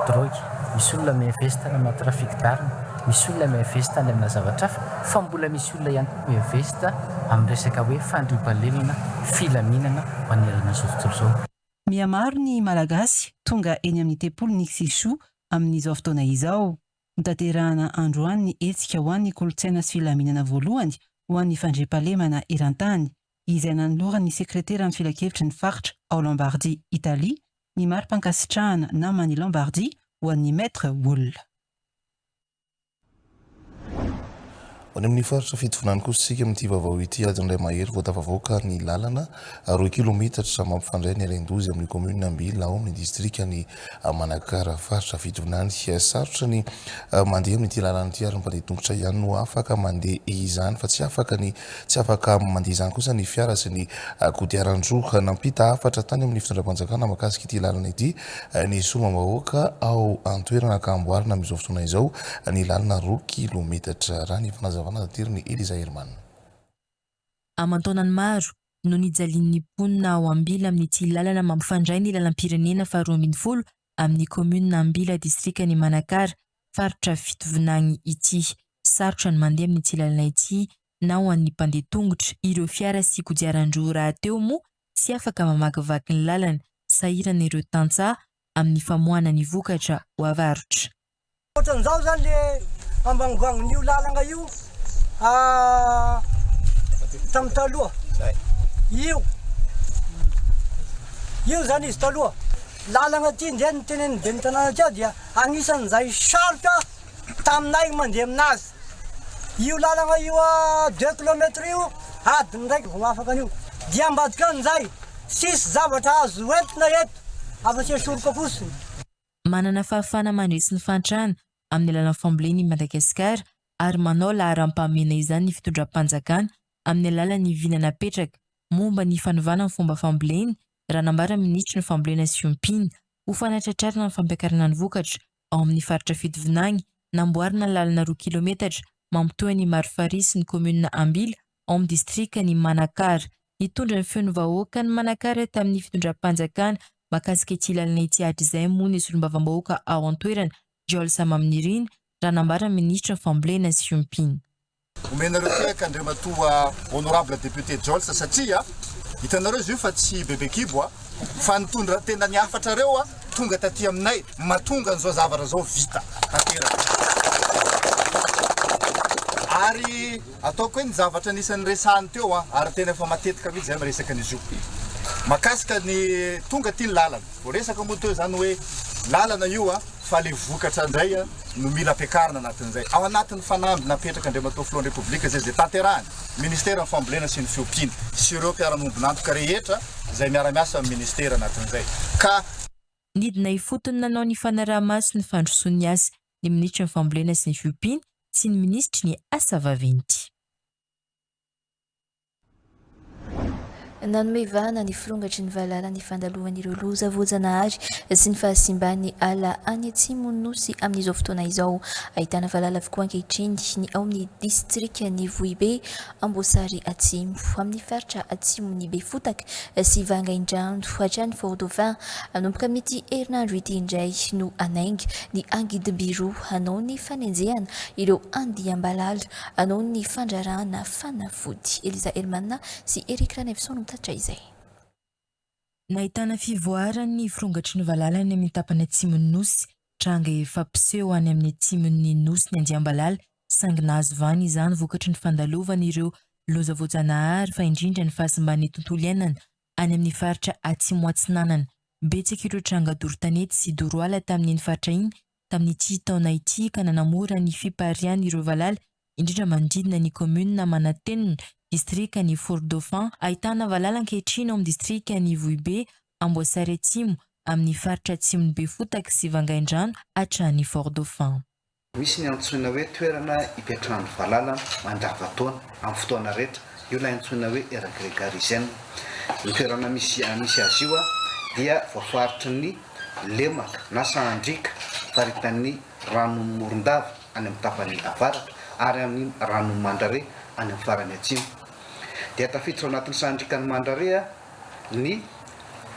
drogue, misy olona mi-invest any amina trafic d'armes, misy olona mi-invest any amina zavatra hafa fa mbola misy Tolona ihany koa hoe vest amin'ny resaka hoe fandriampahalemana filaminana manerana izao tontolo izao. Mihamaro ny Malagasy tonga eny amin'ny tempoly ny Xixu amin'izao fotoana izao. Notanterahana androany ny hetsika ho an'ny kolontsaina sy filaminana voalohany ho an'ny fandriampahalemana eran-tany, izay nanoloran'ny sekreteran'ny filankevitry ny faritra ao Lombardia, Italia, ny mari-pankasitrahana naman'i Lombardia ho an'ny Maître Wall. Any amin'ny faritra Fitovinany kosa isika amin'ity vaovao ity, alindray mahery vao tafavoaka ny lalana roa kilometatra mampifandray ny Alaindozy amin'ny commune Ambila ao amin'ny distrikan'i Manakara faritra Fitovinany. Sarotra ny mandeha amin'ity lalana ity ary ny mpandeha tongotra ihany no afaka mandeha izany fa tsy afaka ny tsy afaka mandeha izany kosa ny fiara sy ny kodiaran-droa. Nampita hafatra tany amin'ny fitondram-panjakana makasika ity lalana ity ny solombavambahoaka ao an-toerana ka hamboarina amin'izao fotoana izao ny lalana roa kilometatra, raha ny fanazavana naterin'i Eliza Herman. Aman-taonany maro no nijalian'ny mponina ao Ambila amin'ity lalana mampifandray ny lalam-pirenena faha roa ambin'ny folo amin'ny kaominina Ambila distrikan'i Manakara faritra Fitovinagny ity. Sarotra ny mandeha amin'ity lalana ity na ho an'ny mpandeha tongotra, ireo fiara sy kodiaran-droa rahateo moa tsy afaka mamakivaky ny lalana, sahirana ireo tantsaha amin'ny famoahana ny vokatra ho avarotra. Ohatran'izao izany ilay ambangongongon'io lalana io tamin'ny taloha. Io, io izany izy taloha. Lalana ity indray no tenenin'ny ben'ny tanàna aty aho dia anisan'izay sarotra taminay mandeha aminazy io lalagna io a deux kilomètre io adiny raiky vao afaka an'io dia ambadika any zay tsisy zavatra azo entina eto afa tsy soroka fotsiny. Manana fahafahana mandresy ny fahantrana amin'ny alalan'ny fambolena i Madagasikara ary manao laharam-pahamehana izany ny fitondram-panjakana amin'ny alalan'ny vina napetraka momba ny fanovana ny fomba fambolena, raha nambaran'ny minisitry ny Fambolena sy Ompiana. Ho fanatratrarana ny fampiakarana ny vokatra ao amin'ny faritra Fitovinagny, namboarina lalana roa kilometatra mampitohy an'i Marifarihy sy ny kaominina Ambila ao amin'ny distrikan'i Manakara. Nitondra ny feon'ny vahoaka an'i Manakara tamin'ny fitondram-panjakana mahakasika ity lalana ity hatrizay moa ny solombavambahoaka ao an-toerana, Jiol Samaminirina, raha nambaran'ny minisitry ny fambolena sy fiompiana. Omenareo tehaka Andriamatoa Honorable Député Joltz satria hitanareo izy io fa tsy bebe kibo a! Fa ny tondra tena ny hafatrareo a tonga taty aminay matonga an'izao zavatra zao vita tanteraka. Ary ataoko hoe ny zavatra anisan'ny resahany teo a ary tena efa matetika mihitsy zay miresaka an'izy io makasika ny tonga aty ny lalana. Voaresaka moa teo zany hoe lalana io a, fa le vokatra ndray a no mila ampiakarina anatin'izay. Ao anatin'ny fanamby napetraka Andriamatoa Filohan'ny Repoblika izay izay tanterahiny Ministeran'ny Fambolena sy ny Fiompiana sy ireo mpiara-miombon'antoka rehetra izay miara-miasa amin'ny Ministera anatin'izay ka Nidina ifotony nanao ny fanaraha-maso ny fandrosoan'ny asa ny Minitry ny Fambolena sy ny Fiompiana sy ny Minisitry ny Asa Vaventy. Nanome vahana ny firongatry ny valala ny fandaloan'ireo loza voajanahary sy ny fahasimban'ny ala any atsimon'ny Nosy amin'izao fotoana izao. Ahitana valala avokoa ankehitriny ny ao amin'ny distrikan'i Vohibe, Amboasary Atsimo, amin'ny faritra atsimon'i Befotaka sy Vangaindrano hatrany Fort-Dauphin. Hanomboka amin'ity herinandro ity indray no hanainga ny angidim-by roa hanao ny fanenjehana ireo andiam-balala Noho ny fandrarahana fanafody. Eliza Elman sy Eric Ranevson no mitatitra izay. Nahitana fivoaran'ny firongatry ny valala any amin'ny tapany atsimon'ny nosy, tranga efa mpiseho any amin'ny atsimon'ny nosy ny andiam-balala, saingy nahazo vahana izany vokatry ny fandalovana ireo loza voajanahary fa indrindra ny fahasimban'ny tontolo iainana any amin'ny faritra atsimo-atsinanana. Betsaka ireo tranga doro tanety sy doro ala tamin'iny faritra iny tamin'ity taona ity ka nanamora ny fiparian'ireo valala indrindra manodidina ny kaominina Manantenina, distrikan'i Fort-Dauphin. Ahitana valala ankehitriny ao amin'ny distrikan'i Vohibe, Amboasary Atsimo, amin'ny faritra atsimon'i Befotaka sy Vangaindrano hatrany Fort-Dauphin. Misy ny antsoina hoe toerana ipetrahan'ny valala mandavantaona amin'ny fotoana rehetra, io ilay antsoina hoe Era Gregariziana. Ny toerana misy misy azy io dia voafaritry ny. lemaka na sahan-driaka faritan'ny ranon'i Morondava any amin'ny tapany avaratra ary an'ny ranon'i Mandrare any amin'ny farany atsimo. Dia tafiditra ao anatin'ny sahan-driakan'i Mandrare ny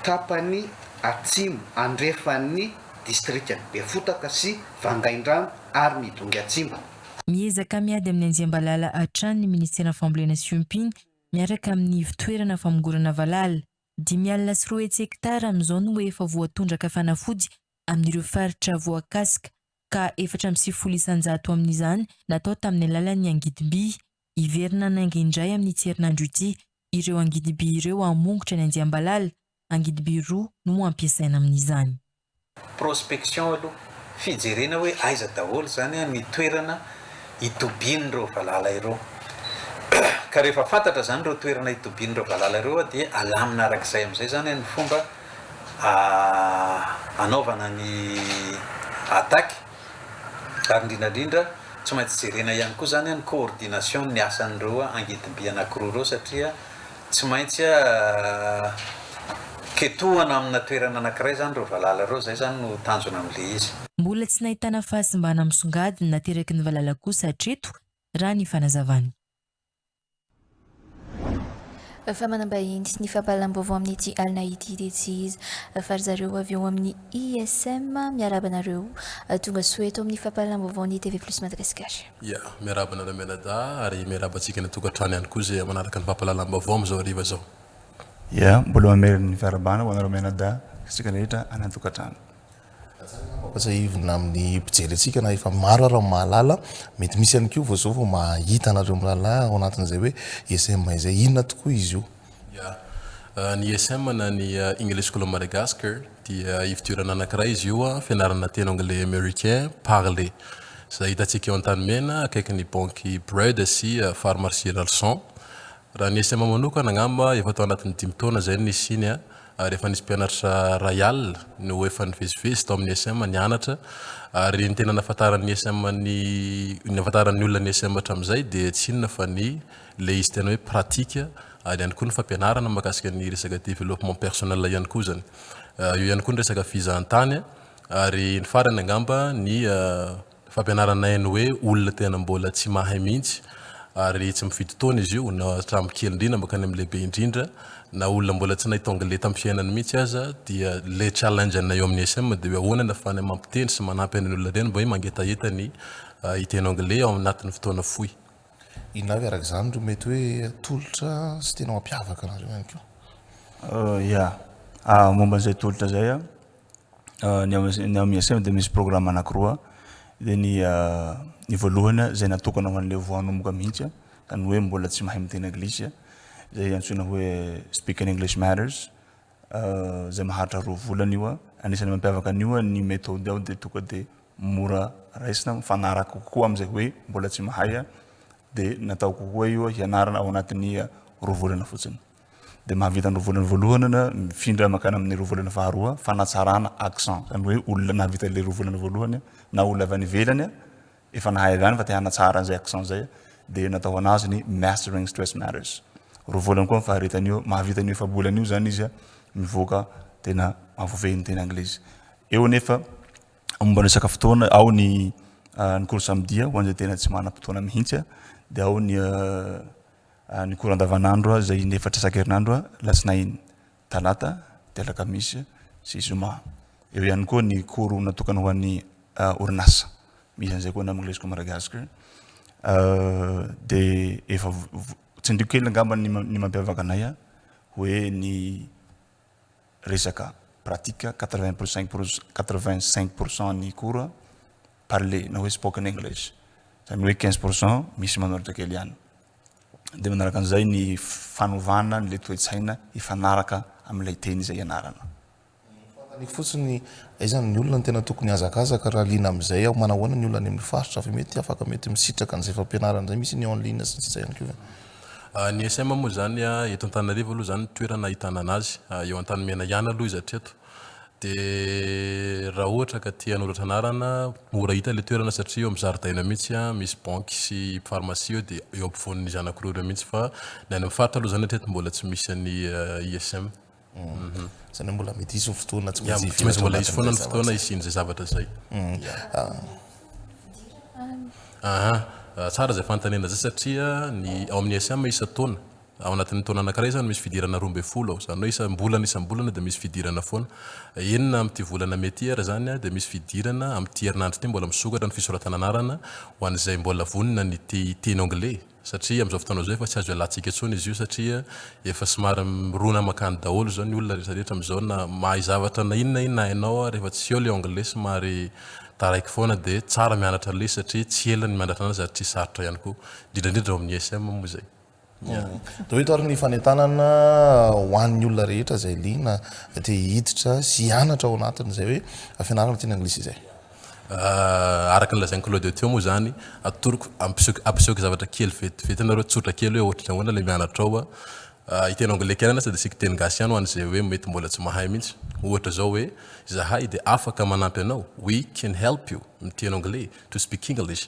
tapany atsimo andrefan'ny distrikan'i Befotaka sy Vangaindrano ary ny Dongy Atsimba. Miezaka miady amin'ny anjiam-balala hatrany ny Ministeran'ny Fambolena sy Fiompiana miaraka amin'ny ivon-toerana famongorana valala. Dimy alina sy roa hetsy hektara amin'izao no efa voatondraka fanafody amin'ireo faritra voakasika, ka efatra amby sivifolo isan-jato amin'izany natao tamin'ny alalan'ny angidim-by. Hiverina hanainga indray amin'ity herinandro ity ireo angidim-by ireo hamongotra ny andiam-balala. Angidim-by roa no hampiasaina amin'izany. prospection aloha, fijerena hoe aiza daholo izany an ny toerana itobian'ireo valala ireo. Ka rehefa fantatra izany ireo toerana itobian'ireo valala ireo an dia alamina araka izay amin'izay izany an ny fomba hanaovana ny attaque. Ary indrindra indrindra tsy maintsy jerena ihany koa izany an ny coordination ny asan'ireo angidim-by anankiroa ireo satria, Tsy maintsy ketohana amina toerana anankiray izany ireo valala ireo, izay izany no tanjona amin'ilay izy. Mbola tsy nahitana fahasimbana misongadina nateraky ny valala kosa hatreto, raha ny fanazavany. Fa manam-bahiny ny fampahalalam-baovao amin'ity alina ity dia tsy iza fa ry zareo avy ao amin'ny ISM. Miarahaba anareo. Tonga soa eto amin'ny fampahalalam-baovaon'ny TV Plus Madagasikara. Ya, miarahaba anareo mianadahy ary miarahaba antsika any an-tokantrano ihany koa izay manaraka ny fampahalalam-baovao amin'izao hariva izao. Ya, mbola mamela ny fiarahabana ho anareo mianadahy sy antsika rehetra any an-tokantrano. Tsara angamba ampatsahivina amin'ny mpijery antsika na efa maro ary ny mahalala, mety misy ihany koa vao izao vao mahita anareo mirahalahy ao anatin'izay hoe ESM izay, inona tokoa izy io? Ya. Ny ISM na ny English School of Madagascar dia ifidiorana anankiray izy io, fianarana teny anglais americain parler. Izay hitantsika eo Antanimena akaikin'ny banky Bread sy Pharmacie Ralson. Raha ny ISM manokana angamba efa tao anatin'ny dimy taona izay no nisiany ary efa nisy mpianatra iray alina no efa nivezivezy tao amin'ny ISM nianatra ary ny tena nahafantaran'ny ISM ny nahafantaran'ny olona ny ISM hatramin'izay dia tsy inona fa ny Ilay izy tena hoe pratique ary ihany koa ny fampianarana mahakasika ny resaka développement personnel ihany koa izany. Eo ihany koa ny resaka fizahantany ary ny farany angamba ny fampianaranay ny hoe olona tena mbola tsy mahay mihitsy ary tsy mifidy taona izy io na hatramin'ny kely indrindra mankany amin'ny lehibe indrindra na olona mbola tsy nahita anglais tamin'ny fiainany mihitsy aza dia ilay challenge anay eo amin'ny ISM dia hoe ahoana no ahafahana mampiteny sy manampy an'ireny olona ireny mba hoe mangetaheta ny hiteny anglais ao anatin'ny fotoana fohy. Inona avy araka izany no mety hoe tolotra sy tena mampiavaka anareo ihany koa? Ia, momba an'izay tolotra izay, ny ao ny ao MISM dia misy programme anankiroa, dia ny ny voalohany izay natokana ho an'ilay vao hanomboka mihitsy, izany hoe mbola tsy mahay miteny anglisy, izay antsoina hoe Speaking English Matters, izay maharitra roa volana io. Anisan'ny mampiavaka an'io ny methode ao dia tonga dia mora raisina, mifanaraka kokoa amin'izay hoe mbola tsy mahay dia natao kokoa io hianarana ao anatin'ny roa volana fotsiny. Dia mahavita ny roa volana voalohany na mifindra mankany amin'ny roa volana faharoa fanatsarana accent, izany hoe olona nahavita ilay roa volana voalohany na olona avy any ivelany efa nahay avy any fa te hanatsara an'izay accent izay, dia natao hoanazy ny Mastering Stress Matters. Roa volana koa ny faharetany eo, mahavita an'io efa-bolana io izany izy, mivoaka tena mahavoafehy ny teny anglisy. Eo anefa, momba ny resaka fotoana, ao ny ah, ny cours samedi ho an'izay tena tsy manam-potoana mihitsy, dia ao ny ah, ah, ny cours andavanandro izay in'efatra isan-kerinandro, alatsinainy. Talata, dia Alakamisy sy Zoma. Eo ihany koa ny cours natokana ho an'ny orinasa. Misy an'izay koa ny amin'ny Leisco Madagascar. Dia efa tsindriko kely angamba ny mampiavaka anay hoe ny resaka pratique quatre vingt pour cinq quatre vingt cinq pour cent ny cours parlé na hoe spoken English. Izany hoe quinze pour cent misy manoratra kely ihany. dia manaraka an'izay ny fanovana an'ilay toe-tsaina hifanaraka amin'ilay teny izay ianarana. Fanontaniako fotsiny, aiza ny olona no tena tokony hihazakazaka raha liana amin'izay aho? Manahoana ny olona any amin'ny faritra fa mety afaka mety misitraka an'izay fampianarana izay? Misy ny en ligne sy ny sisa ihany koa ve? Ny ISM moa izany, eto Antananarivo aloha izany ny toerana ahitana an'azy, eo Antanimena ihany aloha izy hatreto. Dia raha ohatra ka te hanoratra anarana, mora hita ilay toerana satria eo amin'ny zaridaina eo mihitsy an, misy banky sy farmasia eo dia eo ampovoan'ny zanako roa ireo mihitsy fa ny any amin'ny faritra aloha izany hatreto mbola tsy misy an'ny ISM. Izany hoe mbola mety hisy ny fotoana tsy maintsy hiverina ato anatin'izay zavatra izay. Tsy maintsy mbola hisy foana ny fotoana hisian'izay zavatra izay. Aha, tsara izay fanontaniana izay satria ny ao amin'ny ISM isan-taona, Ao anatin'ny taona anankiray izany misy fidirana roa ambin'ny folo ao. Izany hoe isam-bolana isam-bolana dia misy fidirana foana. Enina amin'ity volana mey ity ary izany dia misy fidirana amin'ity herinandro ity mbola misokatra ny fisoratana anarana ho an'izay mbola vonona ny te hiteny anglais satria amin'izao fotoana izao efa tsy azo ialatsika intsony izy io satria efa somary mirona mankany daholo izao ny olona rehetra rehetra amin'izao na mahay zavatra na inona na inona hainao ary rehefa tsy eo ilay anglais somary taraiky foana dia tsara mianatra an'ilay izy satria tsy ela ny mianatra an'azy ary tsy sarotra ihany koa. Indrindra indrindra ao amin'ny ISM moa izay. Dia hoe eto ary ny fanentanana ho an'ny olona rehetra izay liana te hiditra sy hianatra ao anatin' izay hoe fianarana teny anglisy izay. Araka ny lazain'i Claude teo moa izany, atoroko, ampiseho, ampisehoako zavatra kely vetivety anareo, tsotra kely hoe ohatran'ny ahoana ilay mianatra ao a. Hiteny anglais kely ihany aza dia asiako teny gasy ihany ho an'izay hoe mety mbola tsy mahay mihitsy. Ohatra izao hoe, izahay dia afaka manampy anao, we can help you, miteny anglais, to speak English,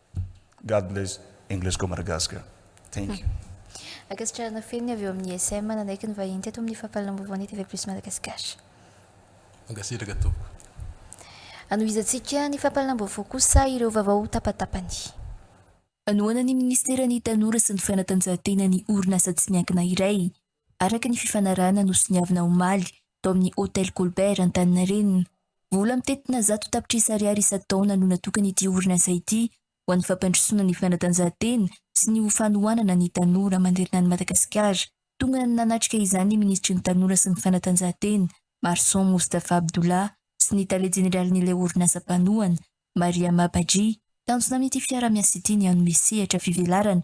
God bless English go Madagascar. Thank you. Ankasitrahana feno ny avy eo amin'ny ISM nanaiky ny vahiny teto amin'ny Fampahalalam-baovaon'ny TV Plus Madagascar. Mankasitraka tompoko. Anohizantsika ny fampahalalam-baovao kosa ireo vaovao ho tapatapany. Manohana ny Ministeran'ny Tanora sy ny Fanatanjahantena ny orinasa tsy miankina iray araka ny fifanarahana nosoniavina omaly tao amin'ny Hotel Colbert Antaninarenina. Vola mitentina zato tapitrisa ariary isan-taona no natokan'ity orinasa ity ho an'ny fampandrosoana ny fanatanjahantena sy ny ho fanohanana ny tanora manerana an'i Madagasikara. Tonga nanatrika izany ny minisitry ny Tanora sy ny fanatanjahantena, Marson Moustapha Abdullah, sy ny tale jeneralin'ilay orinasa mpanohana, Mariama Badji. Tanjona amin'ity fiaraha-miasa ity ny hanome sehatra fivelarana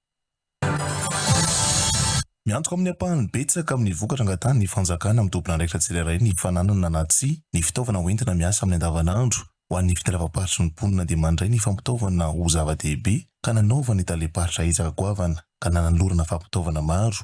Miantoka amin'ny ampahany betsaka amin'ny vokatra angatahan'ny fanjakana amin'ny tomponandraikitra tsirairay ny fananana na tsia ny fitaovana hoentina miasa amin'ny andavanandro. Ho an'ny fitondram-paritry ny mponina dia mandray ny fampitaovana ho zava-dehibe ka nanaovan'ny talem-paritra ezaka goavana ka nanolorana fampitaovana maro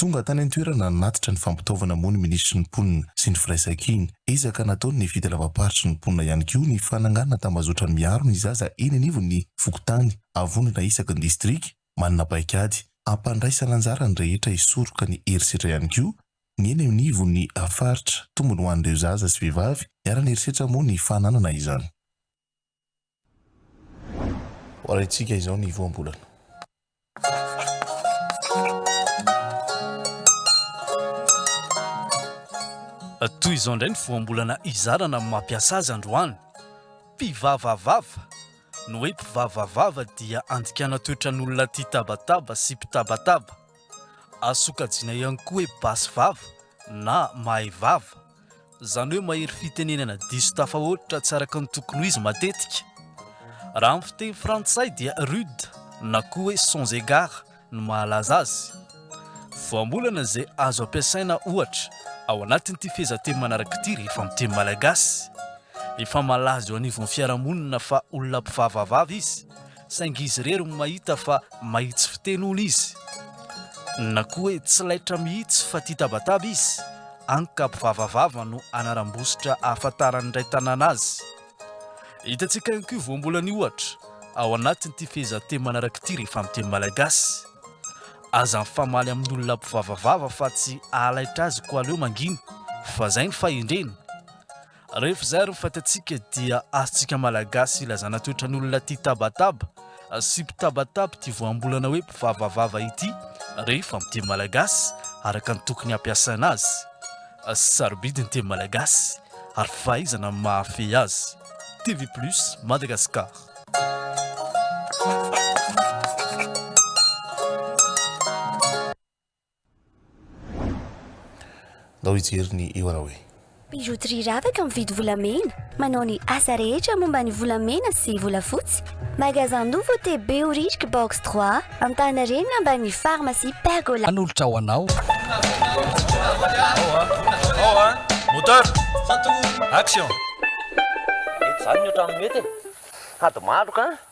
Tonga tany an-toerana nanatitra ny fampitaovana moa ny minisitry ny Mponina sy ny firaisankina. Ezaka nataony ny fitalavam-paritry ny mponina ihany koa ny fananganana tambazotra miaro ny zaza eny anivon'ny fokontany, avondrona isaky ny distrika manana paikady. Ampandraisana anjara ny rehetra hisoroka ny herisetra ihany koa ny eny anivon'ny faritra. Tombony ho an'ireo zaza sy vehivavy niara-niherisetra moa ny fananana izany. Ho arahintsika izao ny voambolana. Toy izao indray ny voambolana izarana amin'ny mampiasa azy androany. Mpivavavava, Ny hoe mpivavavava dia andikana toetran'olona tia tabataba sy mpitabataba. Azo sokajiana ihany koa hoe basy vava na mahay vava. Izany hoe mahery fitenenana diso tafahoatra tsy araka ny tokony ho izy matetika. Raha amin'ny fiteny frantsay dia rude na koa hoe sans égard no mahalaza azy. Voambolana izay azo ampiasaina ohatra ao anatin'ity fehezanteny manaraka ity rehefa amin'ny teny malagasy. Efa malaza eo anivon'ny fiarahamonina fa olona mpivavavava izy. saingy izy irery no mahita fa mahitsy fiteny hono izy na koa hoe tsy laitra mihitsy fa tia tabataba izy, any ka mpivavavava no anaram-bositra ahafantaran'ny iray tanàna azy. Hitantsika ihany koa io voambolana io ohatra ao anatin'ity fehezanteny manaraka ity rehefa amin'ny teny malagasy, Aza mifamaly amin'olona mpivavavava fa tsy ahalaitra azy koa aleo mangina fa izay ny fahendreny. Rehefa izay ary ny fatantsika dia azontsika Malagasy ilazana toetran'olona tia tabataba sy mpitabataba ity voambolana hoe mpivavavava ity rehefa amin'ny teny malagasy araka ny tokony hampiasaina azy. Sarobidy ny teny malagasy ary fahaizana ny mahafehy azy. TV Plus, Madagascar. Ndao hijery ny eo anao e. Bijouterie Ravaka mividy volamena, manao ny asa rehetra momba ny volamena sy volafotsy. Magasin Nouveau T Behoririka Box 3, Antaninarenina ambanin'ny Pharmacie Pergola. Hanolotra ho anao. Moteur, action! Mety zany ny ohatran'ny mety e. Sady maloka an!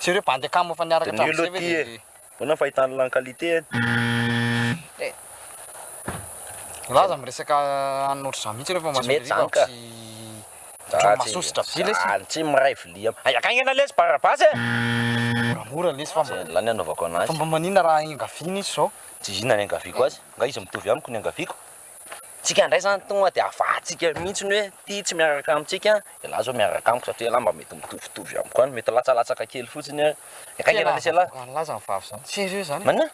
Sy ireo bandy akama efa niaraka hatramin'izay ve dia. De nul ity e. Ahoana ny fahitana an'ilany qualité e? Eh. Za aza miresaka an'ny ohatr'izany mihitsy rehefa mahazo Tsy mety zany ka. Tsy ohatran'ny mahasoa sy dravy lesy. Zany tsy miray vilia. Hay akagny ianao lesy barabasy e! Moramora lesy fa mba. Zay ny anaovako anazy. Fa mba maninona raha engaviana izy zao? Tsy izy inona niangaviako azy. Nga izy mitovy amiko niangaviako? Tsika indray zany tonga dia afahantsika mihintsy ny hoe ity tsy miaraka amintsika dia lahy zao miaraka amiko satria lahy mba mety mitovitovy amiko any, mety latsalatsaka kely fotsiny ary dia akaiky anie lesy lahy. Tena aza avoakan'ny lahy zany vavy zany, tsy sérieux zany, Maninona?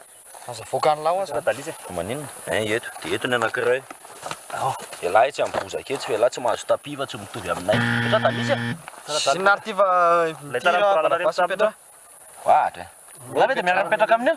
aza avoakan'ny lahy hoa zany. Tadalisa e. Maninona? Ein ieto, dia eto ny anankiray, oh, ialahy etsy amin'ny bozaka etsy fa ialahy tsy mahazo tapis fa tsy mitovy aminay, tadalisa e. Zin ary ity va, ity raha barabasy mipetraha? Ohatra e. Ialahy ve dia miara-mipetraka amin'io?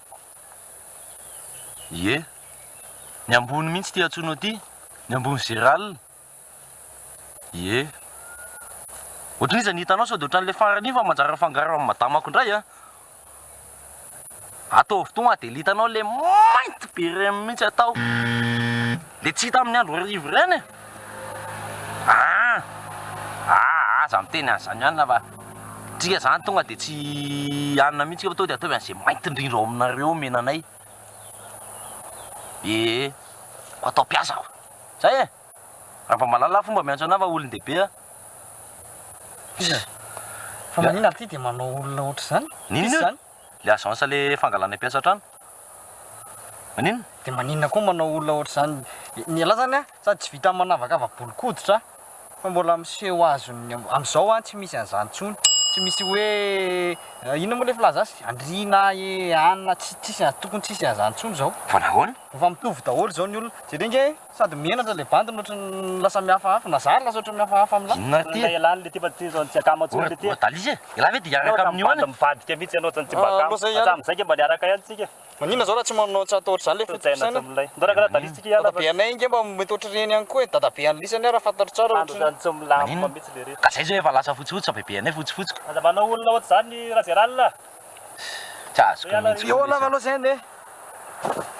Ie. Ny ambony mihitsy ity antsoinao ity, ny ambony géral. Ie. Ohatrin'iza ny hitanao sao dia ohatran'ilay farany iny fa manjary afangaro amin'ny madamako indray a! Ataovy toa mahadely hitanao ilay mainty be ireny mihitsy atao, ilay tsy hita amin'ny andro hariva ireny e! Aa! aa aza miteny an'izany hanina fa tsika zany tonga de tsy hanina mihintsy fa tonga de ataovy an'izay mainty indrindra ao aminareo omena anay ee ko atao mpiasa ko zay e! Rabamalala fomba miantso anah fa olon-dehibe ah! Fa maninona ary ty de manao olona ohatr'izany? Inona? le agence le fangalana mpiasa an-trano? Maninona? De maninona koa manao olona ohatr'izany? Ny anah zany an, sady tsy vitan'ny manavakava bolon-koditra fa mbola miseho azon'ny am, am'zao an tsy misy an'zany tsony, tsy misy hoe inona moa le filaza azy? andriana e, anona, tsi, tsisy, tokony tsisy an'zany tsony zao. Fa nahoana? Efa mitovy daholo zao ny olona, jereo nge. Sady menatra ilay bandy no ohatry ny lasa mihafahafa, na zary lasa ohatry ny mihafahafa amin'lah. Inona ty e? Ialahy le ty fa tsy zao tsy akama intsony le ty e. Voadaliza e! Ialahy ve de hiaraka amin'io any? Bandy mivadika mihitsy ianao zany tsy mba akama. Hatramin izay nge mba niaraka ihany tsika e. Maninona zao raha tsy manao tsy atao ohatr'izany le fotofisainana? Ndao raha karaha dalizy tsika ialahy. Dadabe anay nge mba mety ohatr'ireny ihany koa e, dadabe an'i Lisa anie raha fantatro tsara ohatr'ireny. Andry zany tsomilamba mihitsy lery. Ka zay zao efa lasa fotsifotsy fa bebeanay fotsifotsy ka. Aza manao olona ohatr'izany Rajeral a! Tsy azoko mihitsy koa le izy.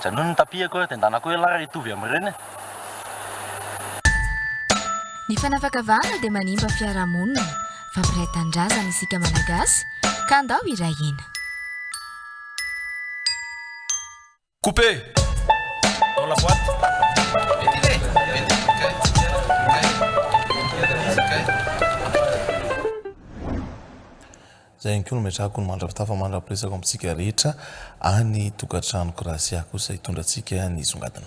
Janony ny tapis-ko eo dia andanako ela ary hitovy amin'ireny e! Ny fanavakavahana dia manimba fiarahamonina, fampiray tanindrazana isika Malagasy ka andao hiray hina. Couper dans la boîte. Zay ihany koa no metrahako ny mandra-pitafa mandra-piresaka amintsika rehetra any tokantrano Gracia kosa hitondra antsika ny songadina.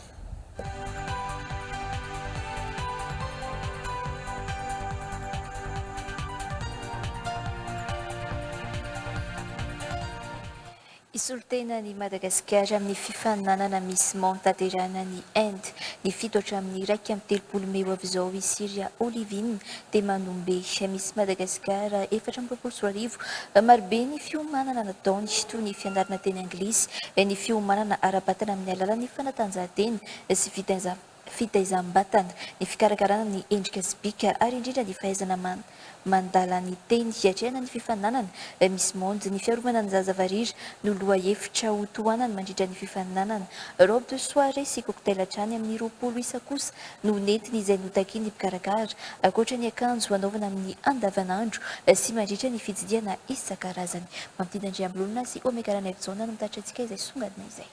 Hisolo tena an'i Madagasikara amin'ny fifaninanana Miss Monde tanterahina any Inde. Ny fito hatramin'ny iraika amby telopolo mey ho avy izao i Siria Olivine de Manombe. Miss Madagascar efatra amby roapolo sy roa arivo. Marobe ny fiomanana nataony, toy ny fianarana teny anglisy, ny fiomanana ara-batana amin'ny alalan'ny fanatanjahantena sy fitaizana. fitaizam-batana, ny fikarakarana ny endrika sy bika ary indrindra ny fahaizana man mandala ny teny. Hiatrehana ny fifaninanana Miss Monde, ny fiarovana ny zaza varira no lohahevitra ho tohanany mandritra ny fifaninanana. Robe de soirée sy cocktail hatrany amin'ny roapolo isa kosa no nentiny izay notakian'ny mpikarakara, ankoatra ny akanjo hanaovana amin'ny andavanandro sy mandritra ny fitsidihana isan-karazany. Mampidi Andriambololona sy Omega Ranaivojaona no mitatitra antsika izay songadina izay.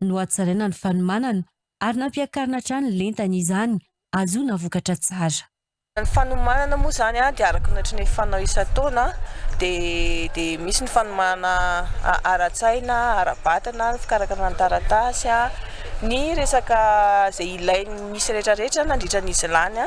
nohatsaraina ny fanomanana ary nampiakarina hatrany ny lentany izany ahazoana vokatra tsara. Ny fanomanana moa izany dia araka ny ohatran'ny fanao isan-taona dia misy ny fanomanana ara-tsaina, ara-batana, ny fikarakarana ny taratasy, ny resaka izay ilain'ny misy rehetra rehetra nandritra ny izy lany.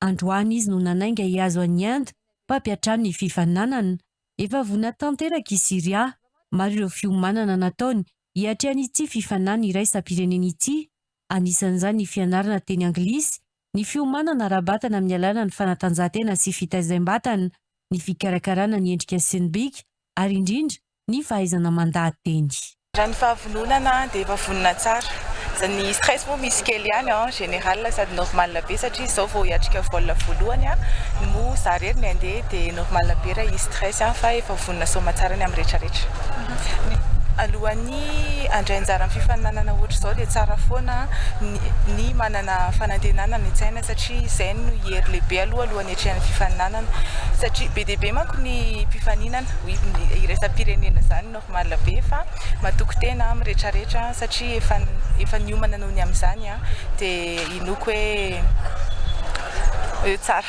Androany izy no nanainga hihazo an'i Inde mba hampiantrano ny fifaninanana. Efa vonona tanteraka i Syria. Maro ireo fiomanana nataony hiatrehan'ity fifaninanana iraisam-pirenena ity, anisan'izany ny fianarana teny anglisy, ny fiomanana ara-batana amin'ny alalan'ny fanatanjahantena sy fitaizam-batana, ny fikarakarana ny endrika sy ny bika, ary indrindra, ny fahaizana mandà teny. Raha ny fahavononana dia efa vonona tsara. Za ny stress moa misy kely ihany en général sady normal be satria izao vao hiatrika vol voalohany no moa za irery ny andeha dia normal be raha hisy stress fa efa vonona soma tsara ny amin'ny retraretra. Alohan'ny handray anjara amin'ny fifaninanana ohatr'izao dia tsara foana ny manana fanantenana any an-tsaina satria izay no hery lehibe aloha alohan'ny. ny hatrehan'ny fifaninanana satria be dia be manko ny mpifaninana oui ny iraisam-pirenena zany normal be fa matoky tena aho miretraretra satria efa efa niomana noho ny amin'izany an dia inoako hoe eo tsara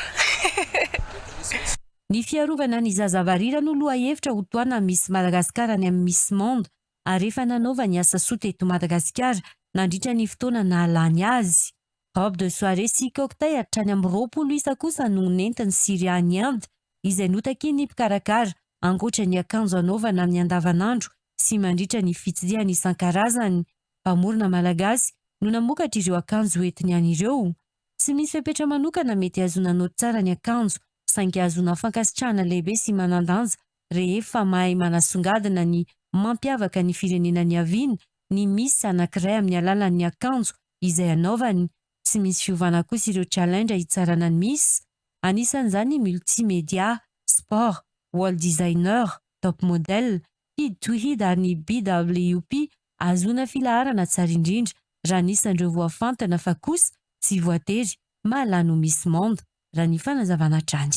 Ny fiarovana ny zaza varira no lohahevitra ho tohana Miss Madagascar any amin'ny Miss Monde ary efa nanaovany asa soa teto Madagasikara nandritra ny fotoana nahalany azy. Robe de soirée sy cocktail hatrany amin'ny roapolo isa kosa no nentin'i Syria any Inde, izay notakian'ny mpikarakara, ankoatra ny akanjo anaovana amin'ny andavanandro sy mandritra ny fitsirihana isan-karazany. Mpamorona malagasy no namokatra ireo akanjo hoentiny any ireo. Tsy misy fepetra manokana mety hahazoana naoty tsara ny akanjo, saingy ahazoana fankasitrahana lehibe sy manan-danja rehefa mahay manasongadina ny mampiavaka ny firenena niaviany ny miss anankiray amin'ny alalan'ny akanjo izay anaovany, tsy misy fiovana kosa ireo challenge hitsarana ny miss, anisan'izany ny multimedia, sport, wall designer, top model, hid to hid ary ny BWP ahazoana filaharana tsara indrindra raha ny isan'ireo voafantana fa kosa tsy voatery mahalany ho miss monde, raha ny fanazavana hatrany.